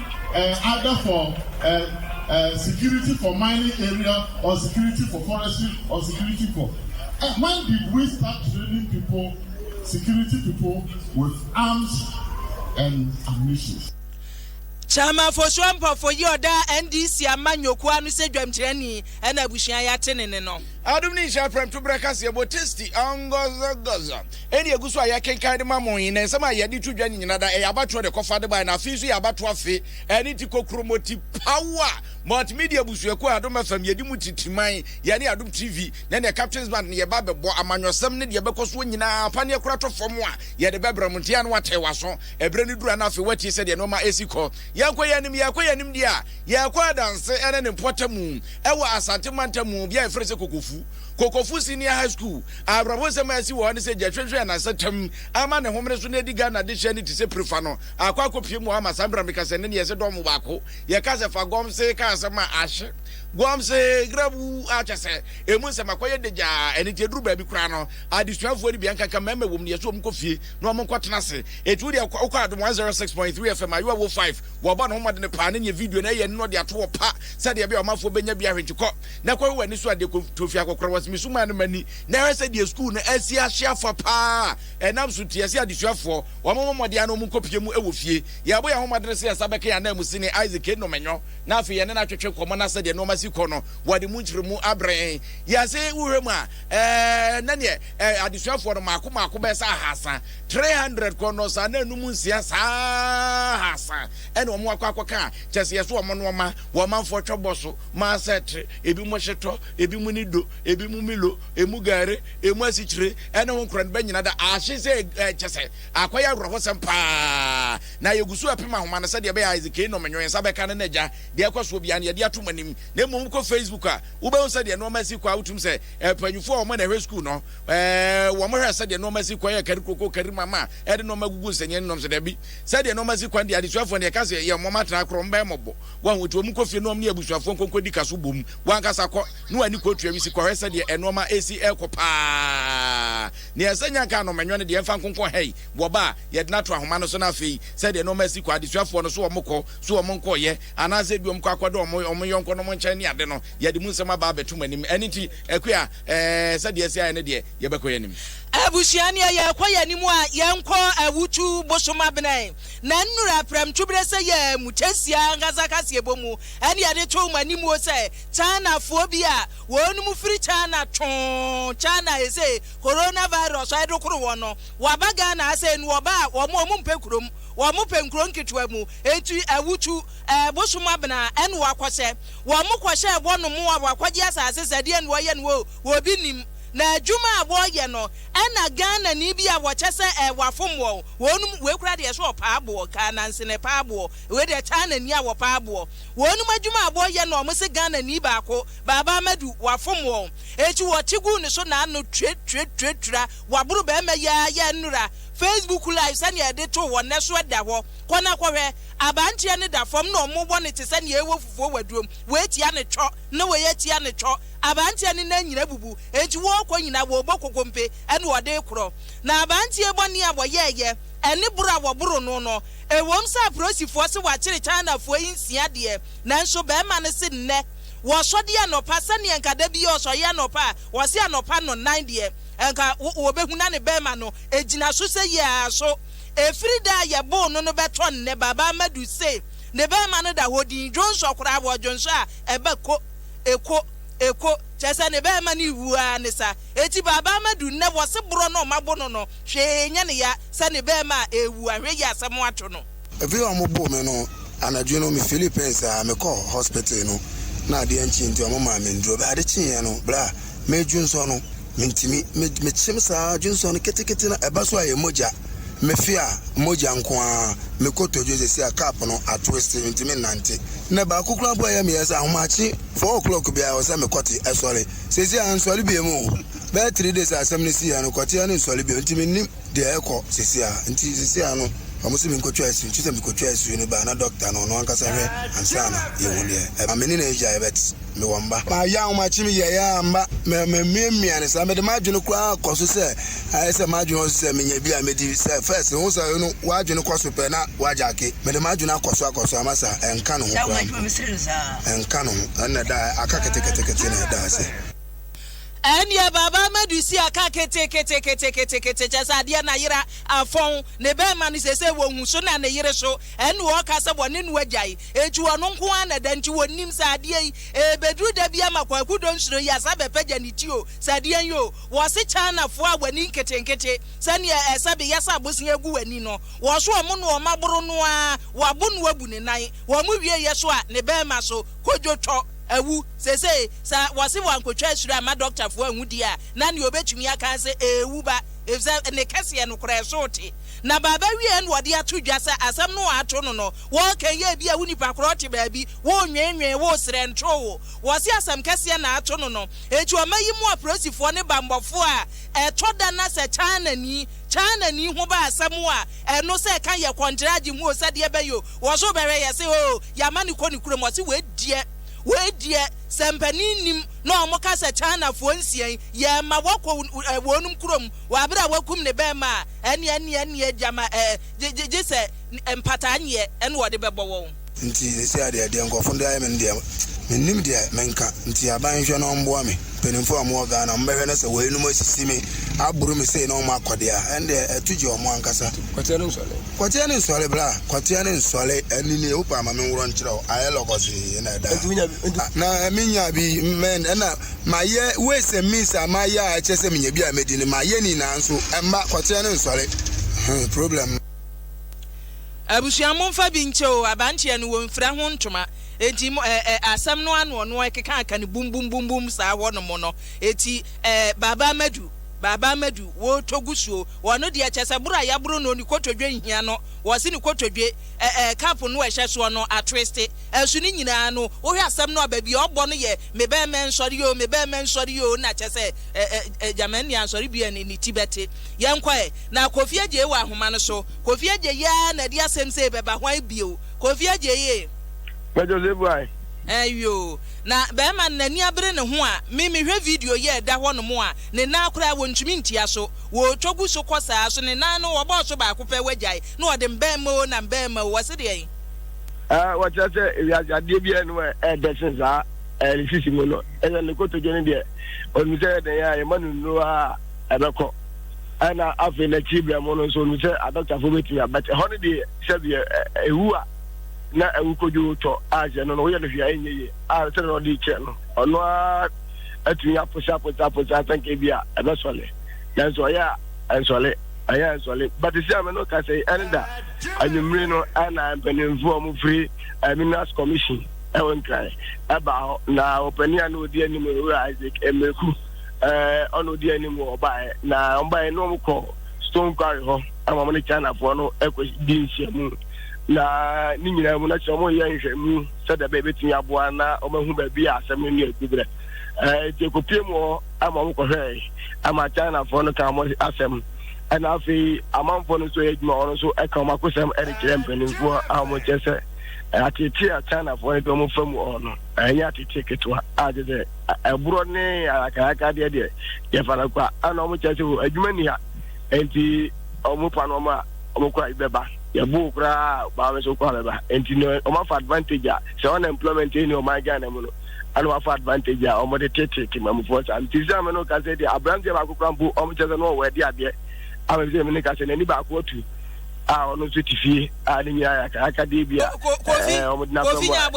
eh, either for eh, eh, security for mining area or security for forestry or security for. Eh, when did we start training people, security people, with arms and ammunition? Chama Fosuo Mpɔfo yi ɔda NDC ama nnwoko ano sɛ dwamkyerɛni ɛna abusua yɛ ate ne ne no. Adum ne nhyɛ prɛmto brɛ kaseɛ bɔ tasty ɔngɔzɔgɔzɔ. Ɛnde egu so a yɛkenkan de ma mo yi, na nsɛm a yɛde to dwa no nyinaa da ɛyɛ abatoɔ de kɔfa de bae, na afei nso yɛ abatoɔ afe. Ɛno nti, Kokromoti Power Multimedia abusuakuo a Adom FM yɛdi mu titiman, yɛne Adom TV ne ne Captains Band no yɛba abɛbɔ amanyɔsɛm ne deɛ ɛbɛkɔ soɔ nyinaa apaneɛ kora tɔ fam a yɛde bɛbrɛ mo. Nte a na woatee w'aso ɛberɛ no duru a na afei woatie sɛdeɛ nnoɔma ɛsi kɔ. Yɛnkɔ yɛn anim, yɛkɔ yɛn anim deɛ a, yɛkɔ adanse ne ne mpɔtamu wɔ Asante mantam bea a yɛfrɛ sɛ Kokofu. Kokofu Senior High School. Awerɛhow nsɛm a asi wɔ hɔ ne sɛ Gyahwehwe a n'asetra mu ama ne homene so na adi Ghana dehye ani te sɛ Prifa no akɔ akɔpue mu hɔ ama saa bere meka sɛ ɛnnɛ ne yɛse dɔm mu baako yɛka sɛ fa Gomsee ka asɛm a ahye Gomsee grabu a kyɛ sɛ emu nsɛm akɔyɛ dagyaa ɛno nti ɛduru baabi koraa no adesuafoɔ no bi ɛnkanka mmarima wɔ mu no yɛse wɔn nkɔ fie na wɔn nkɔ tena ase ɛti wodeɛ wokɔ adom 106.3 FM ayewa wo 5 wɔbɔ ne ho mmɔdene paa ne neɛ video no ɛyɛ no na ɔde ato hɔ pa sɛdeɛ ɛbɛyɛ ɔmanfoɔ bɛnya bi ahwɛ nti kɔ na kɔhwɛ w'ani so adeɛ, kɔto fie akɔkora w'ase. Mesu maa no m'ani, na hwɛ sɛdeɛ sukuu no asi ahye afa paa a ɛnam so nti, yɛse adesuafoɔ, wɔmmɔ mmɔden ara na wɔnkɔpue mu wɔ fie. Yɛrebɔ yɛn ahomadene sɛ yɛsa bɛka yɛn ananmu sene Isaac Enomanyɔ, na afei yɛne no atwetwe nkɔmmɔ na sɛdeɛ nnoɔma si kɔ no, wɔde mu nkyeremu abrɛ yɛn. Yɛse wohwɛ mu a, ɛɛ, na neɛ ɛɛ, adesuafoɔ no mmaako mmaako bɛyɛ sɛ ahasa, 300, kɔ nnɔɔso a na anum nsia saa ara ahasa na wɔn akɔ akɔka a, kyerɛ sɛ yɛso wɔn nnoɔma wɔ amanfoɔ twɛbɔ so. Maasetre, ebinom hyetɔ, ebinom nido, ebinom milo, emu gari, emu asikyire, ne ho nkorɔn bɛnyina da aahye sɛ eh, kyɛ sɛ akɔyɛ awerɛhosɛm paa. Na yɛgu so apem ahoma no sɛdeɛ ɛbɛyɛ a ɛdze kei nom nwensa bɛka no na agya deɛ ɛkɔ soɔ biara no yɛde ato mo anim. Na mmom wokɔ Facebook a, wobɛhu sɛdeɛ nnoɔma asi kɔ a wotum sɛ eh, mpanyinfoɔ a wɔn na ɛhwɛ sukuu no eh, wɔn hwɛ sɛdeɛ nnoɔma asi kɔ yɛ kari kuroko kari mama ɛde nnoɔma gugu nsɛnnianim nom so dabi sɛdeɛ nnoɔma asi kɔ no deɛ adesuafoɔ no yɛka sɛ yɛ wɔn atra korɔ wɔn bɛyɛ mɔbɔ Wahu? Nti wɔn kɔ fie na wɔn ne abusuafoɔ nkonko di ka so bom. Wankasa kɔ na w'ani kɔ tua wisi kɔhwɛ sɛdeɛ ɛnoɔma resi rekɔ paa. Nea ɛsɛ nyɛ nka anom ɛnwɔ no deɛ ɛmfa nkonko hɛi. Wɔba a, yɛdena to ahoma no so na afei sɛdeɛ nnoɔma resi kɔ, adesuafoɔ no, so wɔn kɔ, so wɔn nkɔɔyɛ, anaasɛ ebi wɔn kɔ akɔ da wɔn wɔn yɔnko nom nkyɛn ne ade no, yɛde mu nsɛm aba abɛto mo anim. Ɛno nti, Akua, ɛɛ, sɛdeɛ ɛsi ayɛ no deɛ, yɛbɛkɔ yɛn anim. Abusua, nea yɛrekɔ yɛn anim a, yɛnkɔ awutu bosom abena yi. na nnura prɛmtwoberɛsɛ yɛ mo kyesia ankasa kaseɛbɔ mu ɛne yɛde too mo animuo sɛ Chinafoɔ bi a wɔnom firi China twoo China he se coronavirus ɛdo koro wɔn no wɔaba Ghana ha sei no wɔba a wɔn wɔn mpɛ kurom wɔn pɛ nkuro nketewa mu enti awutu ɛɛ bosom abena ɛne wɔakɔhyɛ wɔn kɔhyɛ ɛbɔ nom a wɔakɔgye asase sɛdeɛ ne wɔyɛ no wɔ wɔbi nim na adwuma a wɔyɛ no Ɛna Ghana ni bi a wɔkyɛ sɛ ɛɛ wafom wɔn, wɔnom wei koraa deɛ ɛsɛ ɔpaa boɔ, kaa nanse na ɛpaa boɔ, wei deɛ taa na ni a wɔpaa boɔ, wɔnom adwuma a bɔ yɛ na wɔn se Ghana ni baako, Baaba Amadu, wafom wɔn, ekyi wɔte guu ne so na ano twe twe twe twira, waboro bɛɛma yi aa yɛ nnora, Facebook live sɛnea ɛde too hɔ nnɛ so ɛda hɔ, kɔ na kɔ hwɛ, abanteɛ no da fɔm na wɔn wɔ no te sɛnea ɛwɔ fufuo waduom, wei tia no twɔ, na wei atia no twɔ, Aberanteɛ no nan nyina abubu, enti wɔɔkɔ nyina wɔɔbɔ kokompe ɛna wɔde rekorɔ. Na aberanteɛ yi bɔne a wɔyɛɛyɛ ɛne boro a wɔboro no no, ɛwom sɛ aporosifoɔ se wɔakyere Chinafoɔ yi nsia deɛ, nanso barima no se nnɛ wɔsɔdeɛ anɔpa sɛdeɛ nka da biara ɔsɔreɛ anɔpa a, ɔse anɔpa nɔnan deɛ nka wɔbɛhu na ne barima no gyina so seyie ara so. Ɛfiri da a yɛboo no no bɛtɔ nnɛ, Baba Amadou se ne barima no da hɔ dinn, dwonsɔ koraa wɔdwonsɔ a ɛba ko. Eko, eko, kyerɛ sɛ ne bɛɛma no ewu ara ne sa. Eti Baabaa Madu nnɛ wɔse borɔ no ɔma bo no no hwee enyɛ ne ya sɛ ne bɛɛma a ewu a, hwɛ yi asɛm atwo no. Bere a wɔn boo me no, anadwo no me feeli pɛn saa, me kɔɔ hospital no na adeɛ nkyee nti wɔn maa me nnuro. Ade kyeeɛ no, bere a meredwo nsɔ no, Mentumi. Me, mekyem saa ara, dwonsɔ no ketekete no, ɛba so a ɛyɛ mogya. Mefe a, mogya nko ara. Me kotodwe seesei a cup no atwist, mentumi nnante. Nnɛ baako koraa mpo a ɛyɛ me yɛ sɛ ahomakye, four o'clock biara ɛwɔ sɛ mekɔte, ɛsɔre. Seesei a nsɔre biom o. Bɛyɛ three days a asɛm no siiɛ no, kɔteɛ no nsɔre biom, nti mennim deɛ ɛrekɔ seesei a. Nti seesei a no, wɔn se menkɔtwa asu, nti sɛ mekɔtwaa asu no ba a na doctor no, ɔno ankasa hwɛ ansa na yɛhu deɛ ɛba. Me ne no agya yɛbɛte. mewɔ mma. Mayɛ ahomakye, meyɛɛ a mma mamiamia no saa. Mede m'adwene koraa kɔ so sɛ ayɛ sɛ m'adwene wɔ so sɛ menya bi a medi sɛ first. Wohu sɛ ɔyere no w'adwene kɔ so pɛ na woagyake. Mede m'adwene akɔ so akɔ so ama saa. Ɛnka ne ho koraa mpo. Ɛnka ne ho. Ɛnna ɛda a aka keteketekete na ɛda ase. Ɛnneɛ Baaba Amadu si aka keteketeketekete kyerɛ sɛ adeɛ n'ayera afɔn ne bɛrima no sɛsɛ wɔ nhuso na ne yere so. Ɛnna ɔka sɛ wɔne no agyae. Eti ɔno nko ara na ɛda, nti wɔnnim sɛ adeɛ yi, ɛrebɛduru da bi ama Kwaku Donsuro yi asan abɛpagya ne ti o, sɛ deɛn o. Wɔse Chinafoɔ a w'ani nketenkete, sɛdeɛ ɛsɛ beyɛ sɛ abosea gu w'ani no, wɔso wɔn na wɔn aboro no ara, wɔabo no abu ne nan, wɔn wieeɛ so a, ne barima so, kodwotwɔ, awu. Seesei, sɛ wɔse wɔankɔtwa ahyire amma dɔktafoɔ anhu deɛ a, na deɛ wɔbɛtumi aka ara sɛ ɛrewu ba, efisɛ ne kɛseɛ no koraa, ɛso te. Na baaba wieeɛ na wɔde ato dwa sɛ asɛm no a wɔato no no, Wɔɔkɛn yɛ ebi a wo nipa korɔ te baabi, woo nweenwee, woo serɛ ntoo wo. Wɔse asɛm kɛseɛ na ato no no. Enti ɔma yi mu apolisifoɔ ne banbɔfoɔ a ɛtɔ da na sɛ Chinani, Chinani ho ba asɛm a ɛno sɛ ɛka yɛ kɔntragye mu o sɛ deɛ bɛyɛ o, wɔso bɛhwɛ yɛ se oo yama no kɔ ne kurom wɔse wei deɛ, wei deɛ sɛ mpanin nnim na wɔn ka sɛ Chinafoɔ nsia yi yɛma wɔkɔ wɔnom kurom wɔ abere a wakum ne bɛɛma a ɛneɛ ɛneɛ ɛneɛ gyama ɛɛ gyegyesɛ mpataanyeɛ ne wɔde bɛbɔ wɔn. Nti seesei adeɛ a deɛ nkurɔfoɔ de ayɛ me no deɛ, mennim deɛ menka. Nti aban nhwɛ na ɔmmoa me. Mpanimfoɔ a wɔwɔ Ghana, wɔbɛhwɛ na sɛ weinom asisi me, aboro me sei na wɔn akɔ deɛ a, ɛndeɛ ɛto gye wɔn ankasa. Kwateɛ no nsɔre. Kwateɛ no nsɔre, bra. Kwateɛ no nsɔre. Ɛno nie, wopɛ a ma menworɔ nkyerɛ wo. Ayɛ lɔgɔsee na ɛda ha. Nti wonya bi? Nti. Na menya bi, mɛn, ɛna mayɛ ways and means a mayɛ a ɛkyerɛ sɛ menya bi a mɛdi no, mayɛ ne nyinaa nso, ɛmma, kwateɛ no nsɔre. Problem no. Abusua momfa bi nkyɛ oo, abranteɛ no wɔnfira ho ntoma enti mo ɛ ɛ asɛm no ano ɔno ɛkeka aka no bum bum bum bum saa hɔ nom no eti ɛ Baaba Amadu Baaba Amadu wɔɔtɔ gu suo ɔno deɛ kyɛsɛ boro a yaboro no ne kotodwe nhia no wɔse ne kotodwe ɛ ɛ cup no ɛhyɛ soɔ no atwiste ɛso ne nyinaa no wohwɛ asɛm no a baabi a ɔbɔ no yɛ me bɛɛma nsɔre oo me bɛɛma nsɔre oo na kyɛsɛ ɛ ɛ ɛ Gyamani ansɔre bi a ne ne ti bɛte Yɛnkɔ ɛ! Na Kofi Agyei wɔ ahoma no so. Kofi Agyei aa na ɛde asɛm sei bɛba hwan bio? Kofi Agyei ee. Major Zebuai. Ɛɛ yoo. Na bɛɛma no n'ani abere ne ho a, me mehwɛ video yi a ɛda hɔ nom a, ne nan koraa wɔntumi ntia so. Wɔɔtwa gu so kɔ saa so, ne nan no wɔbɔɔ so baako pɛ wagyae, na wɔde mbɛɛma oo na mbɛɛma oo, wɔse deɛn? Ɛɛ wɔkyerɛ sɛ wiase adeɛ biara nnim a ɛɛdɛ sen saa, ɛɛ ne sisi mu no, ɛyɛ ne kotodwe no deɛ, ɔnim sɛ ɛyɛ dɛn a, yɛma no nnuro aa. ɛbɛkɔ. Ɛna afei n'akyiri berɛ mu no nso nim sɛ adɔktafoɔ bɛtumi a but ɛhɔ no deɛ sɛdeɛ ɛwu a na ɛwu kodwo tɔ a hyɛ no no woyɛ no hwee a ɛnyɛ yie a sɛdeɛ na ɔde kyerɛ no ɔno ara atumi aposa aposa aposa sɛ nka bi a ɛbɛsɔle nanso ɔyɛ a ɛnsɔle ɛyɛ ɛnsɔle but sɛ ame no ka sɛ ɛne da anwummere no ɛna mpanimfoɔ a wɔfiri eh, minerals commission ɛwɔ nkran ɛba hɔ na ɔpanin a na ɔdi anim owura isaac mmereku eh, ɔna odi anim wɔ ɔbaeɛ na ɔbaeɛ na ɔmokɔ stone quarry hɔ ama mo ne chinafoɔ no ɛkɔdi nhyiamu na ne nyinaa mu na kyerɛ ɔmoyɛ nhwɛmu sɛdeɛ bɛyɛ bɛtumi aboa na ɔmahu baabi a asɛm no ne agu berɛ eh, nti ɛkɔpie mu hɔ ama ɔmokɔhwɛɛ ama chinafoɔ no ka mo asɛm ɛna afei amanfoɔ no nso yɛ adwuma ɔno nso ɛka wɔn akosɛm ɛde kyerɛ mpanimfoɔ a wɔn kyɛ sɛ atete a chinafoɔ no de wɔn fa mu ɔɔ no ɛnyɛ atete ketewa a gye sɛ ɛborɔ ne ayakayakadeɛ deɛ yɛfa no kwa ana wɔn kyerɛ sɛ o adwuma ni ha nti wɔn pa no wɔn a wɔn kɔ a bɛba yɛbo koraa baa wɔn so kɔ a bɛba nti no wɔn afa advantage a sɛ wɔn employment ni wɔn Ghana mu no ana wɔn afa advantage a wɔn de tete mamufoɔ saa nti sɛ wɔn no kasa deɛ aberanteɛ baako koraa mpo wɔn kyerɛ sɛ no wɔwɔ ɛde adeɛ ama sɛ wɔn ne kasa n'ani baako atu a wɔn nso te fie a ne nyinaa yɛ akayakadeɛ bi a wɔn de na fɛn mu a.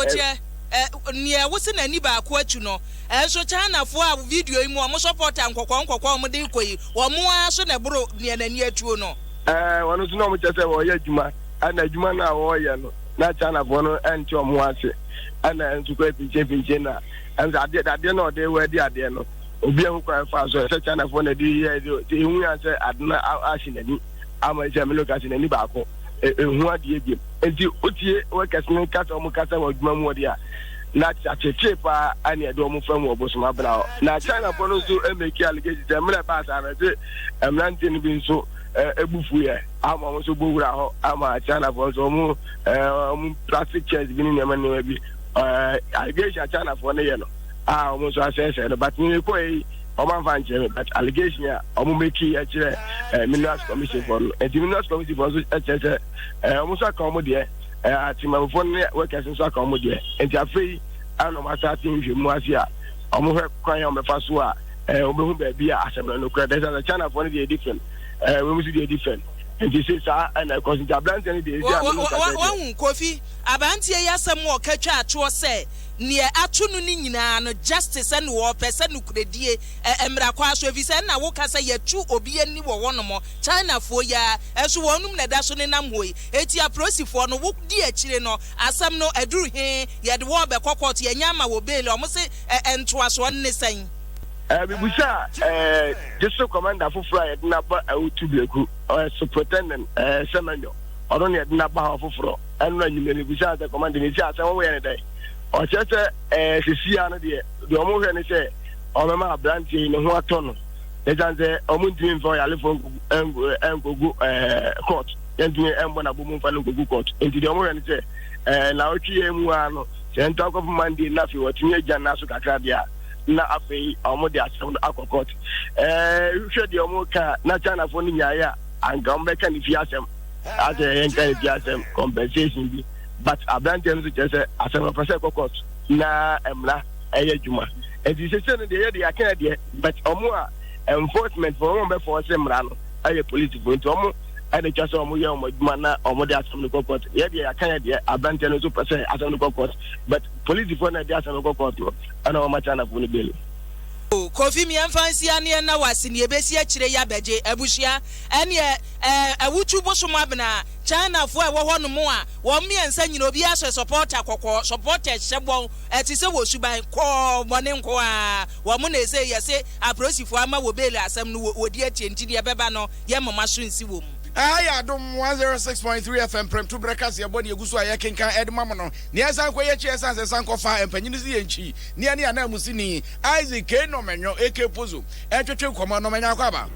Ɛ, nea wosi n'ani baako akyi no. Nso Chinafoɔ a video yi mu wɔn sɔpɔta nkɔkɔɔ nkɔkɔɔ a wɔde rekɔ yi, wɔn ara so na ɛboro nea n'ani atuo no. Ɛɛ, wɔn nso na wɔkyerɛ sɛ wɔreyɛ adwuma, ɛna adwuma no a wɔreyɛ no, na Chinafoɔ no nte wɔn ho ase, ɛna nso kura pinkyenpinkyen na ɛnso adeɛ dadeɛ na wɔde wɛɛde adeɛ no, obi anhu kwan faa so, ɛsɛ Chinafoɔ na ɛde yɛ, ɛde ehu yan sɛ ade no ahye n'ani. ama sɛ me locus n'ani baako ɛhu adeɛ biam nti wotie workers no kasa wɔn kasa wɔ adwuma mu wɔde a na akyekye paa ɛne ɛde wɔn fam wɔ bosom abena hɔ na china fo no nso ɛmɛki allegation sɛ mmerɛ ɛbaa saa no ɛde mmerante no bi nso ɛbufu yɛ ama wɔn nso bɔ wura hɔ ama china fo nso wɔn wɔn plastic chairs bi ne nneɛma nneɛma bi allegation china fo no yɛ no a wɔn nso asɛsɛ no but ne kɔ yi wɔn anfa nkyerɛ mi but allegation a wɔn meki ɛkyerɛ ɛɛ minerals commission fɔ no nti minerals commission fɔ nso ɛkyerɛ sɛ ɛɛ wɔn nso aka wɔn deɛ ɛɛ atemamufo ne workers nso aka wɔn deɛ nti afei ɛna wɔn asa ate nhwɛ mu ase a wɔn hwɛ kwan a wɔn bɛfa so a ɛɛ wɔn bɛhu baabi a asɛm no no kura dɛ sɛ china fɔ no deɛ ɛdi fɛn ɛɛ wɔn nso deɛ ɛdi fɛn nti se saa ɛna ɛkɔ so nti aberanteɛ no deɛ ɛdi a wɔn nka sɛ deɛ wɔn kofi aberanteɛ yi asɛm wɔ kɛtwa atwoɔ sɛ Neɛ ato no no nyinaa no justice ɛne wɔpɛ sɛ nokorɛdie mmra kwan so ɛfiri sɛ ɛna woka sɛ yɛtu obi ani wɔ hɔ nom China foɔ yi ara ɛnso wɔn nom na ɛda so nenam hɔ yi ɛti aprosifoɔ no wo di akyire no asɛm no aduru he yɛde wɔ bɛkɔ court yɛnyɛ ama wɔ bail wɔn se ntoasoɔ no ne sɛn. Eh, mebisa eh, gyese commander foforɔ a yɛde no aba eh, Otu Breku, ɔyɛ superintendent eh, Semenyo, ɔno na yɛde no aba ha ɔfoforɔ. ɛno anwummerɛ no bisaa sɛ kɔmande ne tia sɛ wɔyɛ no dɛn ɔkyerɛ sɛ ɛɛ eh, sesia no deɛ deɛ wɔn hwɛ ne sɛ wɔbɛma aberanteɛ yi ne ho atɔ no ɛsiane sɛ wɔn ntumi mfa ɔyalefoɔ nkɔgu ɛɛ court yɛntumi ɛmbɔ na bomu mfa no nkɔgu court nti deɛ wɔn hwɛ ne sɛ ɛɛ na ɔtwe yɛn mu ara no sɛ nto akɔfo mande na afei wɔtumi agya no aso kakra deɛ a na afei wɔn de asɛm no akɔ court ɛɛ hwɛ deɛ wɔn ka na chinafoɔ no nyaeɛ a anka wɔn bɛka ne fie asɛm asɛ yɛn ka ebi asɛm compensation bi but aberanteɛ no so kyerɛ sɛ asɛm no pɛ sɛ ɛkɔ court na mmara ɛyɛ adwuma nti sese no deɛ yɛ deɛ yɛaka deɛ but ɔmo a enforcement fo ɔmo bɛ fɔ ɔsɛ mmara no ɛyɛ police fo nti ɔmo ɛna twa sɛ ɔmo yɛ ɔmo adwuma na ɔmo de asɛm no kɔ court yɛ deɛ yɛaka yɛ deɛ aberanteɛ no so pɛ sɛ asɛm no kɔ court but police fo na ɛde asɛm no kɔ court no ɛna ɔmo akyɛ anafo no bɛli. Kofi miɛnfa nsi aneɛ na wase neɛ ɛbɛsi akyire yɛ abɛgye abusua ɛneɛ Ɛɛ awutu bosom abena China foɔ a ɛwɔ hɔ nom a wɔn mmiɛnsa nyina obiara hyɛ supporter kɔkɔɔ supporters hyɛ bɔ ɛte sɛ wɔ suban kɔɔ bɔne nko aa wɔn na ɛsei yɛse aprosifoɔ ama wɔ bail asɛm no wɔ di atie nti deɛ ɛbɛba no yɛ moma so nsi wɔ mu. Ɛha yɛ adom one zero six point three FM prɛmto berɛ kase yɛbɔ deɛ egu so a yɛkenkan ɛde ma mo no nea ɛsan kɔ yɛ akyi a ɛsan sɛ ɛsan kɔ fa ɛmpanyini si yɛn nkyi nea ne ananmusini Isaac Kay Normanyo aka Pozo ɛtwetwe nkɔmmɔ no, manya akwaaba.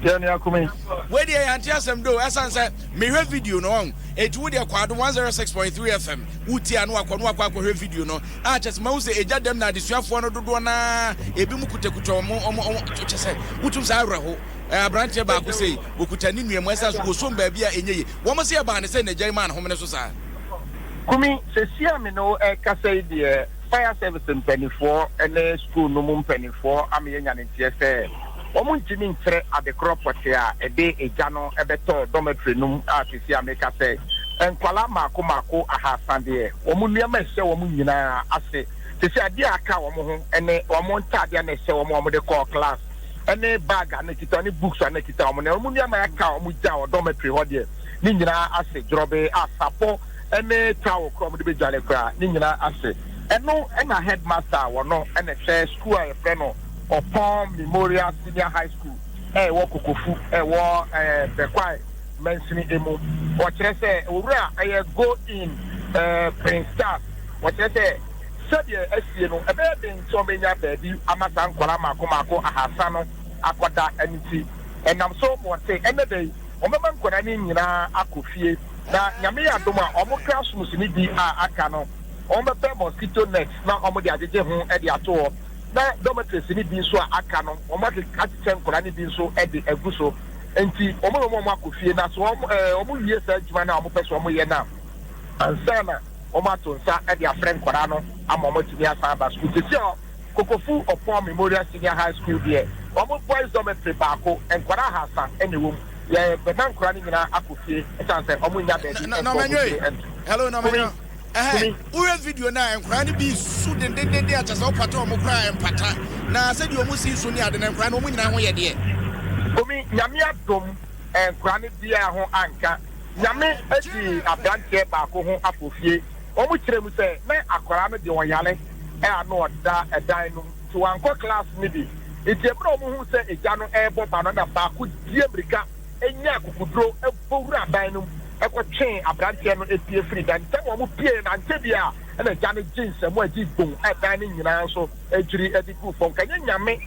Deɛ nea kumi. Wei deɛ yɛante asɛm doo ɛsan sɛ mehwɛ video no wahu enti wo deɛ kɔ adom 106.3 FM wotie a na wakɔ na wakɔ akɔhwɛ video no a kyɛsɛ mahu sɛ ɛgya dɛm na adesuafoɔ no dodoɔ no ara ebi mo kutakutwa wɔn wɔn wɔn kyɛsɛ wotum saa awerɛho aberanteɛ baako sei okuta ne nua mu ɛsan so wɔsom baabi a ɛnyɛ ye wɔn se ɛbaa ne sɛ n'agya yi maa ne homene so saa. Kumi, sesia me ne wo ɛkasa yi deɛ. Fire service mpaninfoɔ ne sukuu no mu mpaninfoɔ ama yɛanya ne nteɛ sɛ wɔn ntumi nkyerɛ adekorɔ pɔtee a ɛde egya no bɛtɔɔ dormitory no mu a sesei a meka sɛ nkwadaa mmaako mmaako ahaasa deɛ wɔn nneɛma a ɛhyɛ wɔn nyinaa ase sesei adeɛ a aka wɔn ho ne wɔn ntaadeɛ a na ɛhyɛ wɔn a wɔn de kɔɔ class ne bag a na ɛkita wɔn ne books a na ɛkita wɔn na wɔn nneɛma a aka wɔn gya wɔ dormitory hɔ deɛ ne nyinaa ase dworɔbee a sapɔ ne towel koro a wɔde bedware koraa, ne nyinaa ase. Ɛno na headmaster a wɔno na ɛhwɛ sukuu a yɛfrɛ no Ɔpɔn Memorial Senior High School a ɛwɔ Kokofu a ɛwɔ ɛɛ Bɛkwae mansini emu. Wɔkyerɛ sɛ owura a ɛyɛ Go In ɛɛ Prince Charles, wɔkyerɛ sɛ sɛdeɛ asie no ɛbɛyɛ den sɛ wɔbenya baabi ama saa nkwadaa mmaako mmaako ahaasa no akɔda ɛno nti ɛnam so ma wɔse ɛnnɛ da yi Wɔbɛma nkwadaa no nyinaa akɔ fie, na Nyame yɛ adom a, wɔn classrooms no bi a aka no, wɔbɛpɛ mosquito nets na wɔde agyegye ho de ato hɔ, na dormitories no bi nso a aka no, wɔakyekyɛ nkwadaa no bi nso de agu so. Enti wɔn na wɔma wɔakɔ fie, na sɛ wɔwie saa adwuma no a wɔpɛ sɛ wɔyɛ no a, ansa na wɔato nsa de afrɛ nkwadaa no ama wɔatumi asan aba sukuu. Seesei a. Kokofu Opon Memorial Senior High School deɛ, wɔn boys dormitory baako, nkwadaa ahaasa na ɛwɔ mu. Yɛbɛma nkwadaa no nyinaa akɔ fie ɛsiane sɛ wɔnnya baabi nkɔ wɔn Nɔmɛnyo tiri ee, nto. hello Kumi, Nɔmɛnyo, ɛhɛn, Kumi. wohwɛ video no a, nkwadaa no bi resu dendendenden a kyerɛ sɛ wopata wɔn koraa a, ɛmpata. Na sɛdeɛ wɔn si resu ne ade no, nkwadaa no wɔn nyinaa ho yɛ deɛ. Kumi, Nyame adom, nkwadaa no biara ho anka. Nyame adi aberanteɛ baako ho afofie Wɔkyerɛɛ mu sɛ na akwadaa no de ɔyare a na ɔda dan no mu nti wankɔ klaase no bi. Enti bere a wɔhuu sɛ egya no rebɔ ba no na baako dii mmirika nyaa akokoduro bɔ wuraa dan no mu kɔtwee aberanteɛ no pie firii dan no mu. Sɛnea wɔpueeɛ no ankyɛ biara na egya no gyee nsamu gyee boom a dan no nyinaa nso dwiri de guu fam. Nka ɛnyɛ Nyame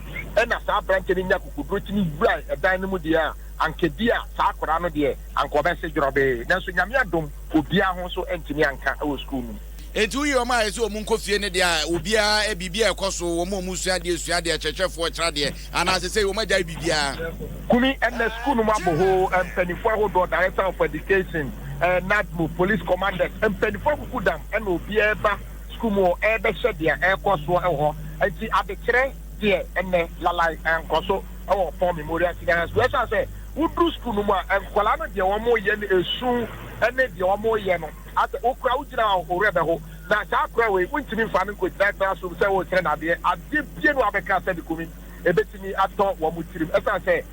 na saa aberanteɛ no nyaa akokoduro tumi wurae dan no mu deɛ a, anka ebia saa akwadaa no deɛ anka ɔbɛse dworɔbee. Nanso Nyame adom. obiara ho nso antumi anka wɔ sukuu no mu. Enti woyi wɔn a ɛsɛ wɔn nkɔ fie no deɛ a, obiara, biribi a ɛkɔ so, wɔn a wɔsua adeɛ sua adeɛ, akyerɛkyerɛfoɔ kyerɛ adeɛ, anaa seesei wɔagyae biribiara. Kumi, Ɛnna sukuu no mu abɔ hoo, mpanimfoɔ ahodoɔ, Director of Education, NADMO, Police Commanders, mpanimfoɔ akuku dam na obiara reba sukuu mu hɔ rebɛhwɛ deɛ ɛrekɔ soɔ wɔ hɔ. Enti adekyerɛ deɛ ɛnnɛ, lalae, nkɔ so wɔ Fon Memorial Senior High School. Ɛsiane sɛ Wodu sukuu no mu a, nkwadaa no deɛ wɔyɛ no ɛsu ne deɛ wɔyɛ no asɛ wo koraa wogyina hɔ a wo werɛ bɛho na saa akora wei wontumi mfa no nkɔgyina classroom sɛ woresrɛ no adeɛ adeɛ bie no a wobɛka sɛ Dekomi ɛbɛtumi atɔ wɔn tirim ɛsiane sɛ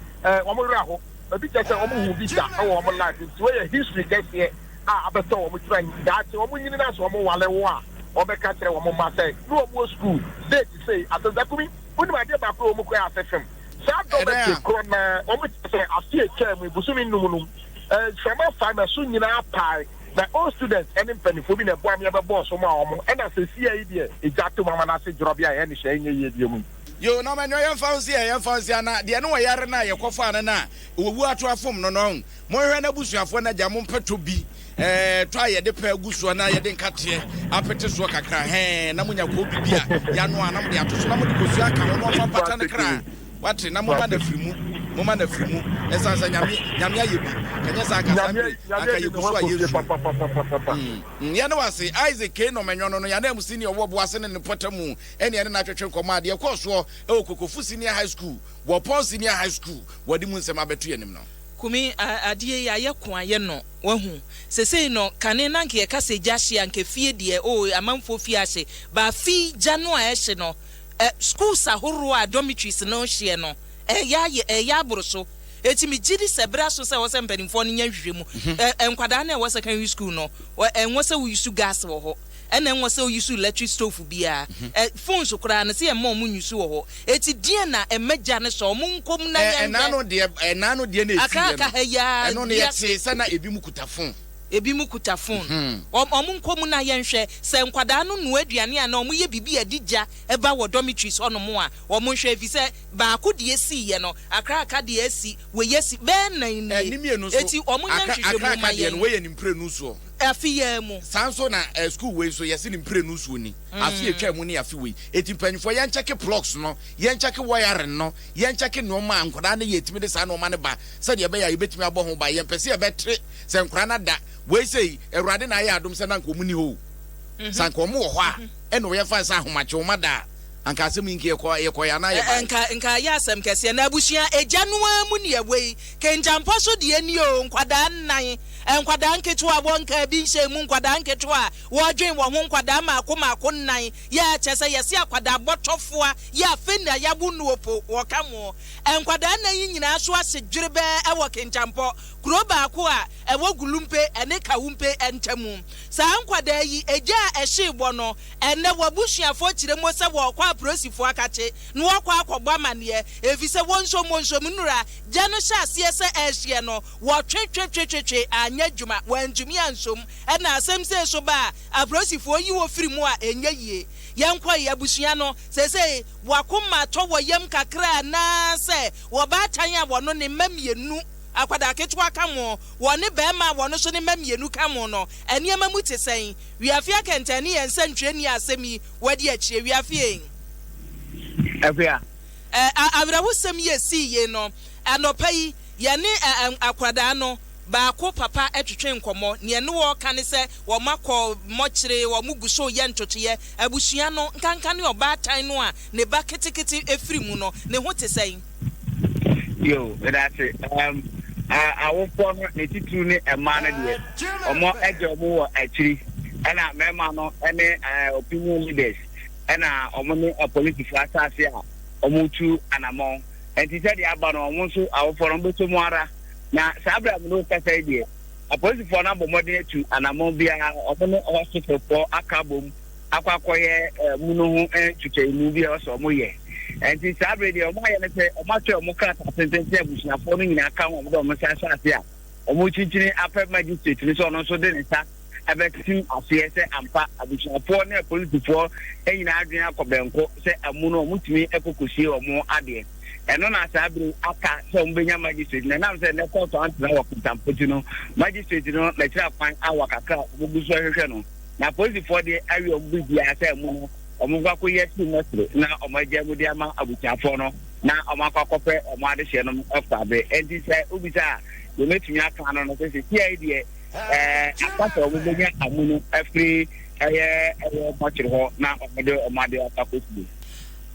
wɔn werɛ aho ɛbi kyɛ sɛ wɔn hu bi da wɔ wɔn life nti wei yɛ history kɛseɛ a abɛtɔ wɔn tirim daakye wɔn nyini no asɛ wɔn wale wo a wɔbɛka kyerɛ wɔn mma sɛ ne wɔn wɔ sukuu date sei asɛ Dekomi wonim adeɛ baako a wɔn kura asɛ fam Saa dɔmɛtiri korɔ no ara, wɔkyerɛ sɛ afe a ɛtwaa mu yi, bosome nnum no mu, mframa faa me so nyinaa paae, na old students ne mpanimfoɔ bi na ɛboaa me bɛbɔɔ so maa wɔn, ɛna seesei yi deɛ, egya ato mu ama no ase dworɔ bea a ɛyɛ ne hyɛ nyɛ yie deɛ mu yi. Yoo na ɔmɛnua yɛnfa nsia yɛnfa nsia na deɛ ne ɔyare no a yɛkɔfaa no no a ɔwuo ato afom no no. Monhwɛ n'abusuafoɔ no agya mompɛtɔ bi eh, tɔ a yɛde pɛ agu soɔ na yɛde nkateɛ apete soɔ kakra hɛn na monya koobi bi a yanoa na mode ato so na mode kosua aka ho na ɔmfa mpata no kra wate na moma no afiri mu moma no afiri mu ɛsiane sɛ nyame nyame ayɛ bi kanyɛ saa anka saa bere anka yɛgu so a yɛnsu mm, yɛne wase isaac kei no manyɔ no no yɛne mu senior wɔ boase ne ne pɔta mu ɛne ɛne no atwetwe nkɔmmɔ adeɛ kɔɔ soɔ ɛwɔ kokofo senior high school wɔpɔn senior high school wɔde mu nsɛm abɛto yɛnim no Kumi, Ah adeɛ yi ayɛ ko ayɛ no wahu sesei no kane na nka yɛka sɛ gya hye a nka fie deɛ oh amanfoɔ fie ahye but afe yi gya no a ɛhye no eh schools ahoroɔ a dormitories no hyeɛ no ɛɛyɛ ayɛ ɛɛyɛ aboro so enti megye di sɛ bere aso sɛ ɛwɔ sɛ mpanimfoɔ no nya nhwehwɛmu eh nkwadaa no a ɛwɔ secondary school no ɛnwɔ sɛ wouse gas wɔ hɔ. Ɛna ɛnwɔ sɛ ouse electric stove biaa. Ɛ, phones koraa no, sɛ yɛmma wɔn use wɔ hɔ. Eti deɛn na ɛma gya no sɔ? Wɔn nkɔ mu na Ɛ, yɛnhwɛ. ɛnaa no deɛ, ɛnaa no deɛ na Aka ɛsiiɛ aka no, ha yi ara, ɛno no yɛ wiase. tee sɛ na ebi mo kuta phone. Ebi mo kuta phone. Mhm. Wɔn, wɔn nkɔ mu na yɛnhwɛ. Sɛ nkwadaa no noa aduane anaa wɔn yɛ biribi a ɛde gya ba wɔ dormitories hɔ nom a, wɔn nhwɛ efisɛ baako deɛ esiiɛ no, akra aka deɛ asi, wei asi, bɛyɛ nnan Ɛ, nie. ne mmienu nso, Eti wɔn nyɛ akra, akra nhwehwɛmu aka mma deɛ no, yɛn. wei yɛ ne mprenu soɔ. Afe yi ara mu. Saa nso na eh, school wei nso yɛse ne mprenu nsuo ni. Afe a ɛtwaa mu ne afe wei. Enti mpanyinfoɔ yɛnkyɛke plugs no, yɛnkyɛke wiring no, yɛnkyɛke nnoɔma a nkwadaa no yɛ tumi de saa nnoɔma no ba sɛdeɛ ɛbɛyɛ a yɛbɛtumi abɔ ho ban. Yɛmpɛ sɛ yɛbɛte sɛ nkwadaa no ada. Wei sei, Awurade na ayɛ adom sɛ na anka wɔn nni hɔ o. Sɛ anka wɔn wɔ hɔ a, ɛnna wɔyɛ fine sɛ ahomakye, wɔn ada a. Anka asɛm yi nka yɛ kɔ yɛ kɔɛ anaa yɛ baɛ. Nka nka ayɛ asɛm kɛseɛ na abusua egya no ara mu neɛ wei kengyanpɔ so deɛ ni oo nkwadaa nnan nkwadaa nketewa wɔ nka ebi nhyɛn mu nkwadaa nketewa a wɔredwen wɔn ho nkwadaa maako maako nnan yɛ kyɛ sɛ yɛse akwadaa bɔtɔfoa yɛ afei na yawo noɔ po wɔka mo nkwadaa nnan yi nyinaa so ase dwerebɛɛ ɛwɔ kengyanpɔ kuro baako a ɛwɔ gulumpe ɛne kawumpe ɛntamu saa nkwadaa yi egya a ɛhyee bɔ no Ɛnnɛ, w'abusuafoɔ kyerɛ mu sɛ wɔrekɔ aporisifo akakye na wɔrekɔ akɔbɔ amaneɛ efisɛ wɔn nsɔmmɔnsɔm nnuru a gya no hyɛ aseɛ sɛ ɛrehyeɛ no, wɔtwetwetwetwetwe anyɛ adwuma, wɔantumi ansom. Ɛna asɛm sei nso ba a, aporisifo yi wo firi mu a, ɛnyɛ yie. Yɛnkɔe, abusua no, seesei w'akoma atɔ wɔ yam kakra anaasɛ ɔbaatan a ɔno ne mma mmienu, akwadaa ketewa ka ho, ɔne barima a ɔno nso ne mma mmienu ka ho no, nneɛma mu te sɛn? Wiafe akɛntɛn ne yɛn nsɛntwerɛ nni asɛm yi wadi akyire wiafe eeŋ. Akua. Ɛ a awerɛhosɛm yi ɛsii yei no, anɔpa yi yɛne ɛ ɛ akwadaa no baako papa twetwee nkɔmmɔ. Neɛ ne wɔ reka ne sɛ wɔn akɔ mmɔkyere, wɔn gu so reyɛ ntotoeɛ. Abusua no, nkanka ne ɔbaatan no a ne ba ketekete firi mu no, ne ho te sɛn? Yo, meda ase. Um, awofoɔ no ne titiriw ne mmaa no deɛ, wɔn agya wɔn wɔ akyiri, ɛna mmarima no ne opinion leaders, ɛna wɔn ne apolisifoɔ asase a wɔtu anamɔn. Nti sɛdeɛ aba no, wɔn nso awofoɔ no bɛsɔ mu ara. Na saa berɛ a mene wo kasa yi deɛ, apolisifoɔ no abɔ mmɔden atu anamɔn biara, wɔn ne hospitalfoɔ aka bom akɔ akɔyɛ mu no ho nkyekyɛmu bi a ɔsɛ ɔmo yɛ nti saa bere deɛ ɔmo ayɛ no sɛ ɔmo atwerɛ ɔmo krataa tenten sɛ abusuafoɔ no nyinaa ka ho ɔmo dɛ ɔmo san hyɛ ase a ɔmo kyinkyini apɛ magistrate no sɛ ɔno nso de ne nsa ɛbɛtim aseɛ sɛ ampa abusuafoɔ ne apolisifoɔ nyinaa adwene akɔ bɛnko sɛ amu no ɔmo tumi ɛkɔkɔsie ɔmo adeɛ ɛno na saa bere aka sɛ ɔmo bɛnya magistrate na ɛnam sɛ ne kɔɔtɔ antena wɔ kɔntampoti no magistrate no n'akyiri akwan awa kakra ɔmo gu so ɛhwehwɛ no na apolisifoɔ de awie wɔn biribiara sɛ ɛmu no wɔn nkɔ akɔyi asi mɛsere na wɔn agya mu de ama abusuafoɔ no na wɔn akɔ akɔpɛ wɔn adehyeɛ no kɔ abe ɛnti sɛ wobisa a yɛmɛtumi aka ano no sɛ sɛsi ayɛ deɛ ɛɛ aka sɛ wɔn bɛnya amu no afiri ɛyɛ ɛyɛ mɔkyere hɔ na wɔn de wɔn adeɛ akɔ akɔsie.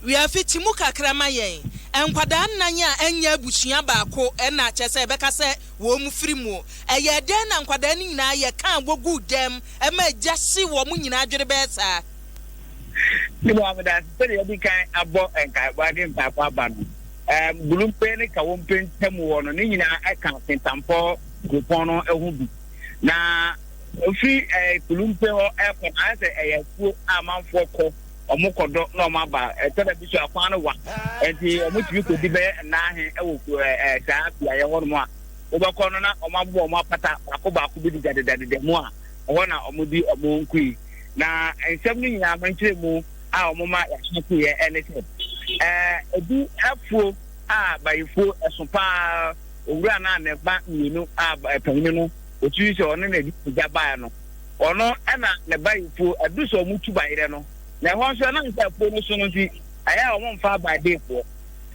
wiafi ti mu kakra ma yɛn nkwadaa nnan a ɛnyɛ abusua baako ɛna kyɛ sɛ ɛbɛka sɛ wɔn mfiri mu. Ɛyɛɛ dɛn na nkwadaa no nyinaa yɛ ka a woguu dɛm ma egya hyee wɔn nyinaa adwene bɛyɛ saa? Me nua, meda ase. Sɛnea yɛadi kan abɔ nkaebɔ de mpaebɔ aba no, ɛɛm, Gulumpe ne Kawompe ntam hɔ no, ne nyinaa ka Kintampo kuropɔn no ho bi. Na ofiri ɛɛ Gulumpe hɔ kɔ no, ayɛ sɛ ɛyɛ afuo a amanfoɔ kɔ. wɔn kɔ do na wɔn aba ɛsɛ dɛ bi so akwan no wa nti wɔn tumi kɔ di bɛyɛ nnaahe ɛwɔ kuro ɛɛ saa beaeɛ hɔ nom a wɔbɛkɔ no na wɔn abobɔ wɔn apata baako baako bi dedadedadeda mu a ɛhɔ na wɔn di wɔn nkui na nsɛm no nyinaa mɛnkyerɛ mu a wɔn ma yɛahyɛ kuu yɛ ɛne sɛ ɛɛ ebi afuo a bayifuo ɛso paa owura no a ne ba mmienu a panyin no otumi sɛ ɔne na ebi gya baa no. Ɔno na ne ba mfuo adu sɛ wɔn tu bayerɛ no, na ɛhɔ nso ɛnam sɛ afuo no so no nti, ɛyɛ a wɔn mfa aban de boɔ.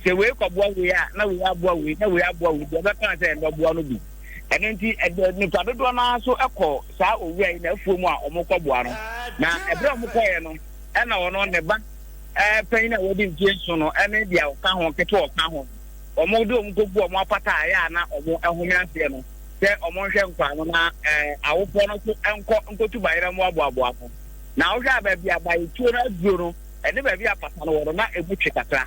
Sɛ wei kɔboa wei a, na wei aboa wei, na wei aboa wei, deɛ ɔbɛka sɛ ɛno boa no bi. Ɛno nti, ɛde nnipa dodoɔ no ara nso kɔ saa owura yi n'afuo mu a wɔkɔboa no. Na ɛberɛ a wɔkɔeɛ no, ɛna ɔno, ne ba panyin a wadi mfeɛ nson no ne deɛ ɔka ho, ketewa a ɔka ho, wɔde wɔn kɔgu wɔn apata a ɛyɛ a na wɔhome aseɛ no sɛ wɔnhwɛ nkwaa no na awofoɔ no nso nkɔ nkɔtu bayerɛ mmoaboaboa ano. Na wohwɛ a baabi a bayetuo no aduro no ne baabi a apata no wɔ no, na ɛmu twe kakra.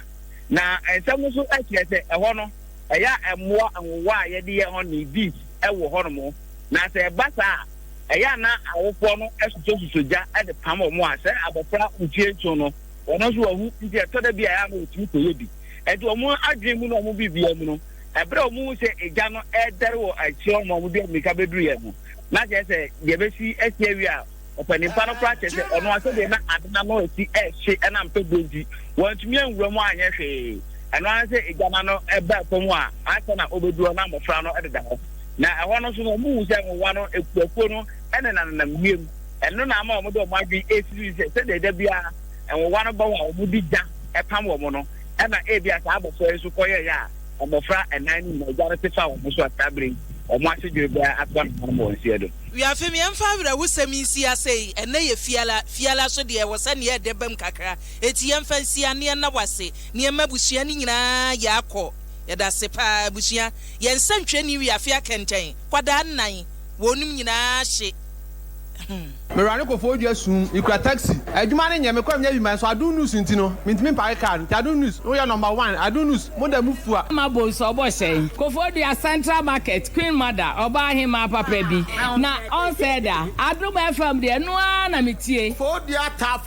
Na nsɛm no nso kyerɛ sɛ ɛhɔ no, ɛyɛ a mmoa nwowa a yɛde yɛ honey, bees, wɔ hɔnom. Na sɛ ɛba saa a, ɛyɛ a na awofoɔ no sosɔsosɔ gya de pam wɔn a sɛ abɔfra mfeɛ nson no, wɔn nso wɔahu nti ɛtɔ da bi a ɛyɛ a na wɔtumi kɔyɛ bi. Ɛnti wɔn adwene mu ne wɔn biribiara mu no, ɛberɛ a wɔhu sɛ egya no ɛredɛre wɔ akyire hɔ ma wɔde mmirika bɛduru yɛn ho, na kyerɛ sɛ deɛ ɛbɛsi asi awie a, ɔpanin pa no koraa kyerɛ sɛ ɔno ara sɛdeɛ na ade no ano asi ɛrehye ɛnam pɛ berɛ nti, wantumi anwura mu anyɛ hwee. Ɛno ara ne sɛ egya no ano baa fam a, ansa na ɔbɛduru hɔ na mmɔfra no deda hɔ. Na ɛhɔ no nso no, wɔhu sɛ nwowa no akuakuo no nenanenam wiem. Ɛno na ama wɔde wɔn adwene ɛresisi sɛ sɛdeɛ da biara nwowa no bɔɔ a wɔde gya pam wɔn no ma ebia saa abofra yi nso kɔyɛe a mmofra nnan no nyinaa egya no te faa wɔn so a saa bere yi wɔn ase dwere bɛyɛ atoa no hanom wɔ nsi adu. Wi afem yɛmfa awerɛhosɛm yi nsi ase yi ɛnnɛ yɛ fiala fiala so deɛ ɛwɔ sɛ neɛ ɛdɛ bam kakra eti yɛmfa nsi ane ɛnna wase neɛ ma abusua no nyinaa yɛ akɔ yɛdase paa abusua yɛn sɛntwerɛni wi afe akɛntɛn kwadaa nnan wɔnom nyinaa hye hmm. Mewura no kɔfɔ odwa sum, mekura taxi. Adwuma no nyɛ, mekɔ a menya bi ma nso Adom News nti no, mentumi mpake car no. Nti Adom News, woyɛ number one, Adom News, moda mu fua. Mama Bonsu ɔbɔ hyɛ yi. Kofo Odua Central Market Queen Mother ɔbaa hemaa papa bi na ɔnsɛe da. Adom FM deɛ ɛno ara na metie. Kofo Odua Taff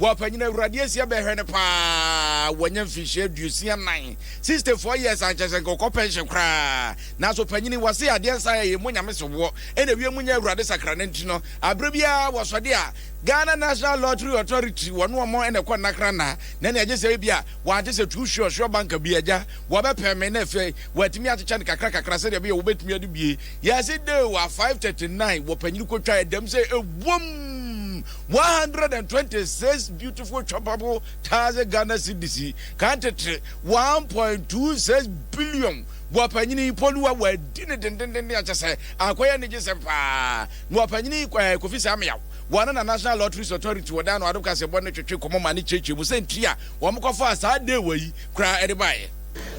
Boapa nyina awurade asia bɛhwɛ no paa wanya mfinhyia aduosia nan 60 four years a nkyɛsɛ nka ɔkɔ pension koraa nanso panyini wase adeɛ nsa yɛ yɛmmɔ nyame so boɔ ɛna awie mu nyɛ awurade sakra no nti no aberɛ biara wɔsɔde a Ghana National Lottery Authority wɔne ɔmɔ ɛna ɛkɔ nnakra na na ne agye sɛ ebi a wɔagye sɛ tu hwe ɔhwe ɔba nka bi agya wɔbɛpɛ me na afei wɔatumi akyekyɛ no kakra kakra sɛdeɛ ɛbɛyɛ wɔbɛtumi ade bie yɛse de wa 539 wɔ panyini kɔtwa ɛdam sɛ ɛwom One hundred and twenty six beautiful chopable thousand Ghana cedis ka ntetee one point two six billion wɔ panyin yi pɔ no a wɔadi ne dendenden a kyɛ sɛ akɔyɛ anigyesɛm paa na wɔ panyin yi kɔ eh, Kofi Sameaw wɔne na National Lotteries Authority wɔ dan no adom kasebɔ ne twetwe kɔmɔ ma ne kyekyɛ mu sɛ nti a wɔn kɔfaa saa deewa yi koraa ɛde baeɛ.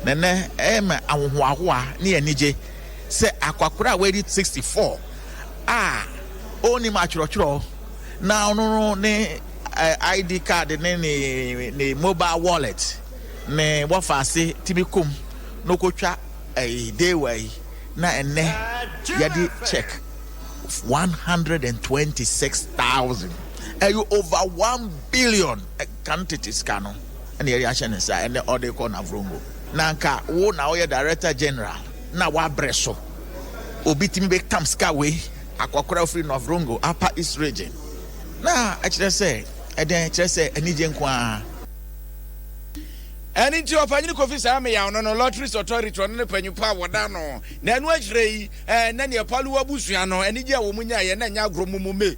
Na nnɛ ɛma ahohoahoa ne anigye sɛ akwakoraa a wadi sixty four a ɔnnim atwerɛtwerɛw na ɔno no ne ID card ne ne ne mobile wallet ne wɔfaase tumi kɔm na ɔkɔtwa ɛyi dewa yi na ɛnɛ yɛde check one hundred and twenty six thousand ɛyɛ over one billion kan tete sika no ɛna yɛde ahyɛ ne nsa ɛnɛ ɔde kɔ na vrongo na nka wo na ɔyɛ director general. na wabrɛ so. Obi tumi bɛtam sika wei, akɔkora a ɔfiri North Rongo, Upper East Region, na ɛkyerɛ sɛ ɛdɛn? Ɛkyerɛ sɛ anigye nko ara. Ɛno nti Ɔpanyin Kofi saa mmeaw no no Lotteries Authority, ɔno ne panyin pa a wɔda no. Na ɛno akyire yi, ɛɛ, na nea Palu abusua no anigye a wɔn nyaeɛ na ɛnyɛ agorɔ mumu me.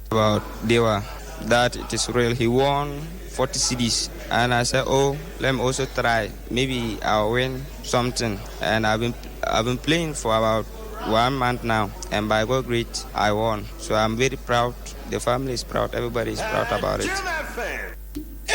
about Dewa that it is real he won forty cedis and I said oh let me also try maybe I'll win something and I've been I've been playing for about one month now and by God great I won so I'm very proud the family is proud everybody is proud about it.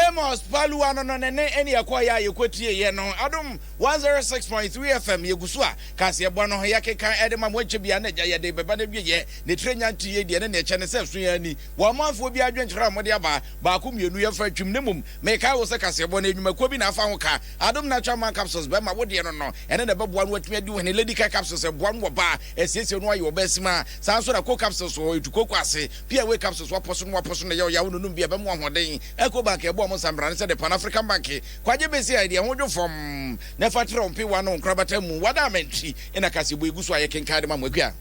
Amos Paluwa no no ne ne ɛne yɛkɔɔyɛ a yɛkɔtieeɛ no Adom 106.3 FM yɛgu so a kaseɛbɔ no yɛkenkan ɛde ma mo akyɛ biara na agya yɛde bɛba no awieɛ. Ne tire nya nteeɛ deɛ ne na ɛkyɛ ne sɛ ɛso yɛn ani. Wɔ amanfoɔ biara adwenkyerɛ a wɔde aba, baako mmienu yɛmfa ntwem. Na mmom mekae wo sɛ kaseɛbɔ no nnwumakuo bi na afa ho ka. Adom Natural Man Capsules bɛma wo deɛ no no. Ɛno na ɛbɛboa no watumi adi ohene. Lady Kai Capsules ɛboa no wɔ ba a ɛsiesie no ayɛ ɔba asimaa. Saa nso na Coke Capsules wɔ hɔ, ɛtu kooko ase. Piaway Capsules wapɔ so no wapɔ so na ɛyɛ ɔya a wononom bi a ɛbɛma wo ahoɔden. Ecobank ɛboa wɔn sambrane sɛ The Pan African Bank. Kwagye Bese I deɛ ho dwo fam na fa trɛ wo mpewa ne wo nkorabata mu. W'adamantri na kaseɛbɔ yi gu so a yɛkenkan de ma mo. Akua.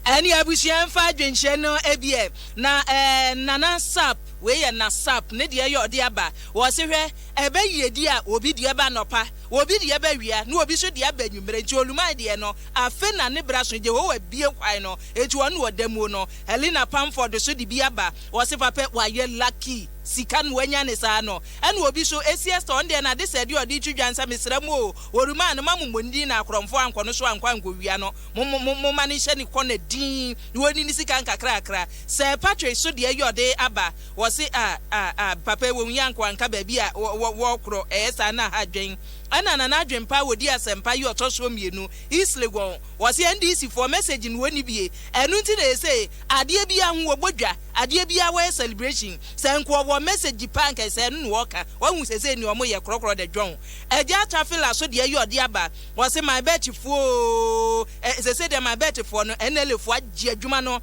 Ɛne abusua mfa adwenkyerɛ no ɛbiɛ na ɛɛ nana sap wei yɛ na sap ne deɛ yɛ ɔde aba wɔse hwɛ ɛbɛ yiedi a obi deɛ ba nɔpa obi deɛ ba wia ne obi so deɛ aba nwumerɛ nti oluman deɛ no afe na ne bra so Jehowa bie kwan no nti wɔn na ɔda muo no Helena Pamford so de bi aba wɔse papɛ wayɛ lucky sika no wanya ne saa no ɛna obi so ɛsi Esther ɔno deɛ na ade sɛ deɛ ɔde twi dwa nsa mesrɛ mo o oluman no ma mo mmɔ ne din na akorɔmfoɔ ankɔ no so ankɔ ankɔ wia no Mo mo mo momma no nhyɛ ne kɔn na dinn na wɔnni ne sika nkakrakra. Sɛ Patrick so deɛ yɛ ɔde aba wɔse ah ah ah papa yi wɔnhia nkoa nka baabi a wɔ wɔ wɔkorɔ ɛyɛ saa na ha dwen ɛna na n'adwen paa wɔdi asɛmpa yi ɔtɔ soɔ mmienu is Legon wɔse NDC foɔ message no wɔnni bie ɛno nti na ɛsɛ adeɛ biara ho wɔbɔ dwa adeɛ biara wɔyɛ celebration sɛ nka ɔwɔ message paa nka ɛsɛ ɛno na wɔka wahu sɛ sɛ nea wɔyɛ korɔkorɔ dɛ dwɔn agya Tafila so deɛ yɛ ɔde aba Wɔse my bet foɔ oo eh sese deɛ my bet foɔ no NLA foɔ agye adwuma no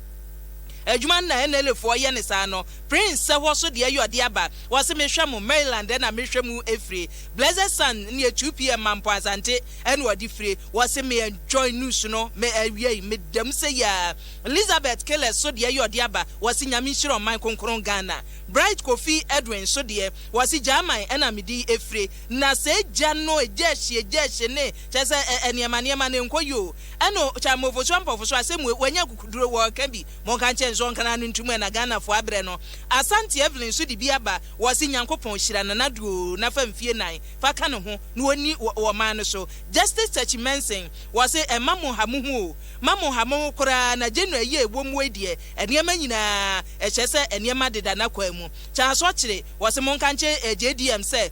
adwuma no na NLA foɔ yɛ no saa no Prince sɛ hɔ so deɛ yɛ ɔde aba wɔse me hwɛ mo Maryland ɛna me hwɛ mu ɛfire Blessed Sun neɛ 2 pm ma mpo Asante ɛna ɔde fire wɔse me enjoy news no me awiei me da mu sɛ yia Elizabeth Killers so deɛ yɛ ɔde aba wɔse Nyame nhyira ɔman kronkron Ghana Bright Kofi Edwin so deɛ wɔse Gyaman ɛna mede ɛfire Na sɛ egya no egyahye egyahye ne, kyerɛ sɛ, ɛ, ɛnneɛma nneɛma no nkɔ yie o, ɛna o, kyɛ mmɔfosoɔ mmɔfosoɔ asɛm wei, wanya akukuduro, wɔreka bi, monka nkyerɛ no sɛ ɔnkra no ntom ɛna Ghanafoɔ abrɛ no. Asante Evelyn nso de bi aba, ɔse Nyankopɔn hyira Nana Addo o, na fa mfie nan, fa ka ne ho, na ɔnni wɔ, wɔ ɔman no so. Justice Takyi Mensing, ɔse ɛmma mo nha mo ho o, mma mo nha mo ho koraa, na January yi a ɛwɔ mu wei deɛ, nneɛma nyinaa, ɛkyerɛ sɛ nneɛma deda n'akwan mu. Kyɛnso kyere, wɔse monka nkyere JDM sɛ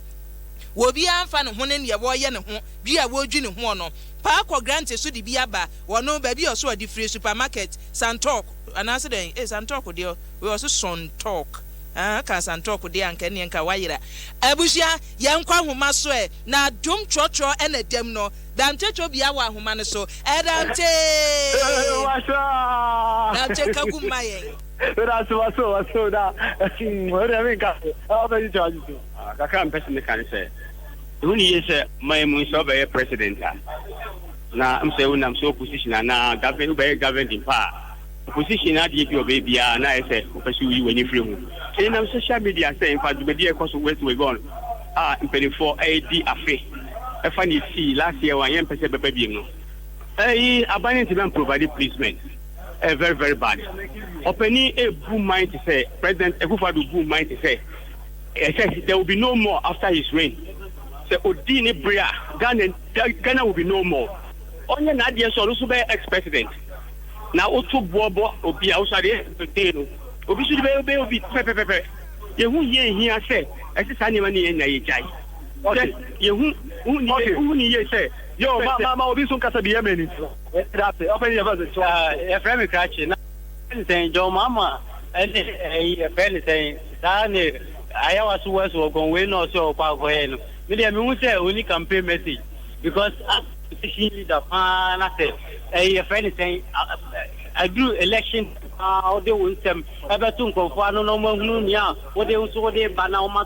wɔbiaa nfa ne ho ne neɛ wɔyɛ ne ho dwi a wɔdwi ne hoɔ no paa kɔ Grante so de bi aba wɔno baabi a ɔse ɔde firi supermarket Santɔk anaase dɛn ei Santɔk deɛ wei ɔse Sontɔk aa ɔkaa Santɔk deɛ a anka ɛneɛ nka wayera abusua yɛnkɔ ahoma so ɛ na dom trɔtrɔ na dam no Dante twɔ bia wɔ ahoma no so ɛ Dante Dante ka gu mma yɛn. Meda ase waso waso da. Wo deɛ menka so. Ɛwɔ bɛ yi kyɛ wagye so. Ah, kakra mpɛ sɛ meka ne sɛ ɛho ne yie sɛ man mu sɛ wobɛyɛ president a na m sɛ wonam sɛ opposition anaa govern wobɛyɛ governing pa a opposition adeɛ bi ɔbɛyɛ biara na ayɛ sɛ wopɛ sɛ woyi w'ani firi ho ɛnam social media sɛ mfa dwumadi a ɛkɔ so west wagon a mpanimfoɔ ɛredi afe ɛfa ne ɛsii last year wanyɛ mpɛ sɛ bɛba biem no ɛyi aban no ntumi amprovide placement Eh very very bad ɔpanin ebu man te sɛ president akufo ado bu man te sɛ ɛsɛ eh, there will be no more after his reign sɛ odi ne bere a ghana ghana will be no more ɔnyɛ n'adeɛ so ɔno so bɛyɛ ex president na woto boɔ bɔ obi a woso adeɛ ɛdee no obi so de bɛyɛ bɛyɛ obi pɛpɛpɛpɛ yehu yie hia sɛ ɛsɛ saa nneɛma ne yɛ nya yɛ gyae sɛ yehu wohu ne yie sɛ yɛ ma ma ma obi so nkasa bi yɛ mani Yɛda ase. Ɔpɛ yi yɛfrɛ no sɛ yɛfrɛ me krakye na yɛfrɛ no sɛn John Mahama ɛne ɛyi yɛfrɛ no sɛn saa ne Ayawa so West wɔ gɔn wei na ɔsɛ ɔkɔ akɔyɛ no me deɛ mehu sɛ ɔni campaign message because opposition leader paa na sɛ ɛyi yɛfrɛ no sɛn aduru election paa wode wo nsɛm ɛbɛto nkɔmfoɔ ano na ɔmahunu nea wode nso wode ba na ɔma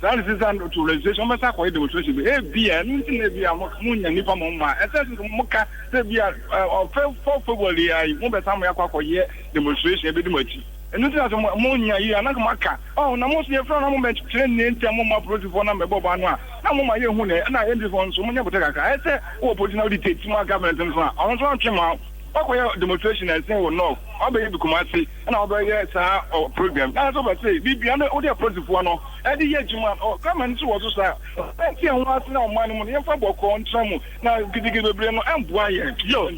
Saa ne sesa no to registration, wɔbɛsan akɔ yɛ demonstration bi. Ebia ɛno nti na ebia mo mo nya nipa mo mma. Ɛsɛ sɛ mo ka sɛ ebia ɔ fɛ fɔ February ya yi mo bɛsan mo yakɔ akɔ yɛ demonstration ebedi mo akyi. Ɛno nti na sɛ mo mo nya yi a na nka mo aka. Ɔho na mo so yɛ fɛ na mo bɛ kyerɛ nea nti a mo ma polisi fɔ na mɛ bɔ ba no a na mo ma yɛ hu nɛ ɛna NDC fɔ nso mo nya botɛ kakra. Ɛsɛ wɔ polisi na ɔde tɛti mo a government nso a ɔno nso antwe mo a wakɔ yɛ demonstration ɛnsɛn wɔ north ɔbɛ yɛ bi Kumasi. na wɔbɛyɛ saa program na sɛ wɔbɛte bi bia na wode apolisifoɔ no ɛde yɛ adwuma no kama no so wɔ so saa ɛnti ɛho ase na ɔman no mu no yɛmfa bɔkɔɔ ntra mu na gidigidi bebree no ɛmboa yɛ yo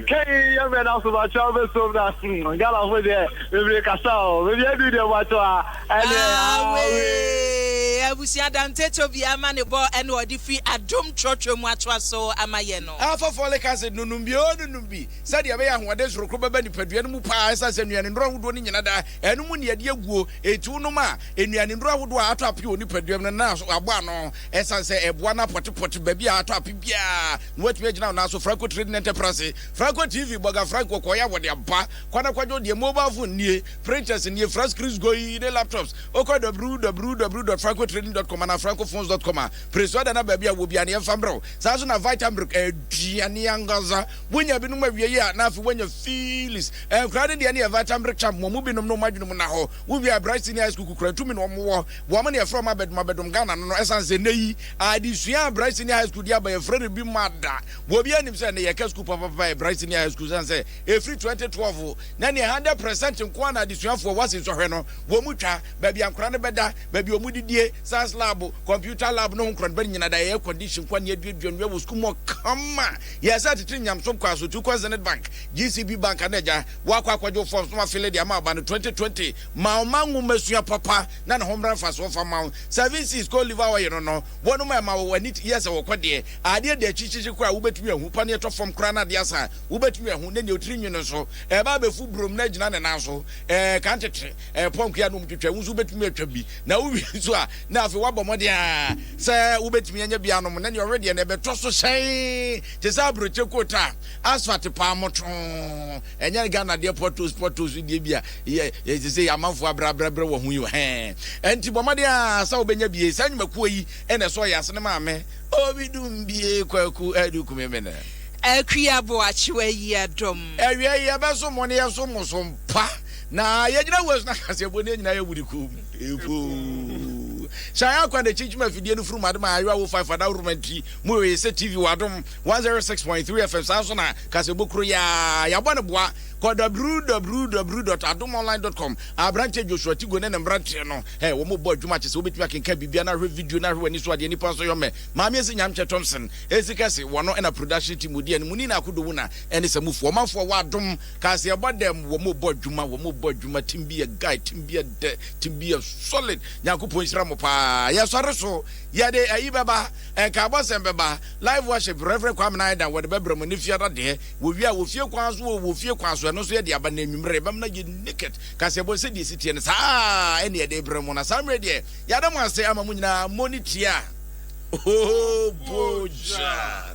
kɛyi yɛbɛ na so bakyɛ wobɛsom na galafo deɛ bebree kasa o bebi adu deɛ bakyɛ a ɛne awee abusua dante tobi ama ne bɔ ɛne ɔde fi adom trɔtrɔ mu atoa so ama yɛ no ɛfa folic acid no nom bi o no nom bi Sɛdeɛ ɛbɛyɛ a ahoɔden soronko bɛba nipadua no mu pa ara ɛsiane sɛ nnuane nnuro ahodoɔ no nnyina daa, ɛno mu na yɛde aguo, enti wonom a, nnuane nnuro ahodoɔ a atɔ ape wɔ nipadua mu no nan so abɔ ano ɛsiane sɛ ɛboa no apɔtepɔte baabi a atɔ ape biara na woatumi agyina wo nan so Franco Trading Enterprase Franco TV Boga Franco kɔeɛ a wɔde aba kɔ na kɔgye wo deɛ Mobile phone nie Printers nie Fra screens goi ne laptops wokɔ www.francotrading.com anaa francophones.com a Presuada na baabi a wɔ biara no yɛmfa mmerɛ wo saa nso na Vitamilk aduane ankasa Wonya binom awie yi a, na afei woanya Phyllis. Nkwadaa no deɛ ne yɛ vital mberɛ camp, wɔn mu binom no wɔn adwene mu nna hɔ. Wowie a, Bright Senior High School kukura ntumi na wɔn wɔ. Wɔn na yɛfrɛ wɔn abɛdom abɛdom Ghana no no, ɛsiane sɛ nnɛ yi adesua a Bright Senior High School de aba yɛfrɛ no bi ma da. Obiara nim sɛ nnɛ yɛka sukuu papapapa yɛ Bright Senior High School ɛsiane sɛ ɛfiri 2012 na neɛ hundred percent nko ara na adesuafoɔ wɔ ase nsɔhwɛ no wɔn twa, baabi a nkwadaa no bɛda, baabi a wɔn didie, science lab, computer lab ne ho nkorɔneba no nyina da air condition nko ara na yɛaduadua no yɛwɔ sukuu mu hɔ kama. Yɛ sɛ tete nyamesom kwan so, tu kɔ Zenith Bank, GCB Bank anaa agya wo akɔ akɔgye wo forms na wafele de ama aba no 2020. Ma ɔma nwomasua papa na ne ho mmra mfasoɔ fa mma wo. Seven Seas Cod Liver Oil no no wɔ no ma ɛma wo w'ani yɛ sɛ wokɔ deɛ. Adeɛ da akyikyikyi koraa a wobɛtumi ahu, paneɛ tɔ fam koraa na adeɛ asa a wobɛtumi ahu ne deɛ otiri nwi no nso ɛreba abɛfu burom na agyina ne nan so ɛɛ kan tete. ɛrepɔn kua na wɔtwitwa, wo nso wobɛtumi atwa bi. Na wowie nso a, na afei woabɔ mmɔden a sɛ wobɛtumi anya bi anom. Na deɛ ɔwe deɛ na ɛbɛtɔ so hyɛn te sɛ aburokye kota, asphalt paamoto. Ɛnyɛ Ghana deɛ potholes potholes deɛ bi a yɛte sɛ amanfoɔ abrɛabrɛbrɛ wɔ ho yi o. Hɛn. Ɛnti bɔ mmɔden a sɛ wobɛnya bie. Saa nnwumakuo yi na ɛsɔɔ yɛ ase ne maame. Obi dum bie kwaku adu kume me ne. Akua boakye w'ayia dɔm. Awiei yɛbɛso mo ne yɛso mo so mpa. Na yɛgyina wura so na ka sɛ, Bɔ nea nyinaa yɛ wode kɔɔ mu. Epuuuu. Sɛ ayɛ akwa de kyinkyim afidie no furu madem a ayewa wo five ada woroma ntiri mu yɛ sɛ TV wɔ adom 106.3 FM saa nso na ka sɛ bokuro yaa yɛabɔ no boa kɔ www.adomonline.com Aberanteɛ Joshua Tigo ne ne mmeranteɛ no ɛ wɔn bɔ adwuma kyɛ sɛ wobɛtumi akenka biribia na ahwɛ video na ahwɛ w'ani so adeɛ nipa nso yɔ mɛ maame asi nyamkyɛ Thompson ɛsi kɛse wɔno ɛna production team mu deɛ no mu ni na akodowuna ɛne samufoɔ ɔmanfoɔ wɔ adom Cause yɛbɔ dɛm wɔn bɔ adwuma wɔn bɔ adwuma team bi yɛ guy team bi yɛ dɛ team bi yɛ solid nyankopɔn nhyira mo paa yɛ sɔre so yɛde ayi bɛba nkaabɔ sɛm bɛba live worship reverend kwame na ayɛdan wɔde bɛbrɛ mo ne fiada deɛ wɔ wie a wɔ fie kwan so wɔ fie kwan so ɛno nso yɛde aba na anwummerɛ yɛbɛm na yɛ naked cause yɛbɔ sɛ deɛ si teɛ no saa ɛne yɛde brɛ mo na saa mmerɛ deɛ yɛada mo ase ama mo nyinaa mo ne tia oh boja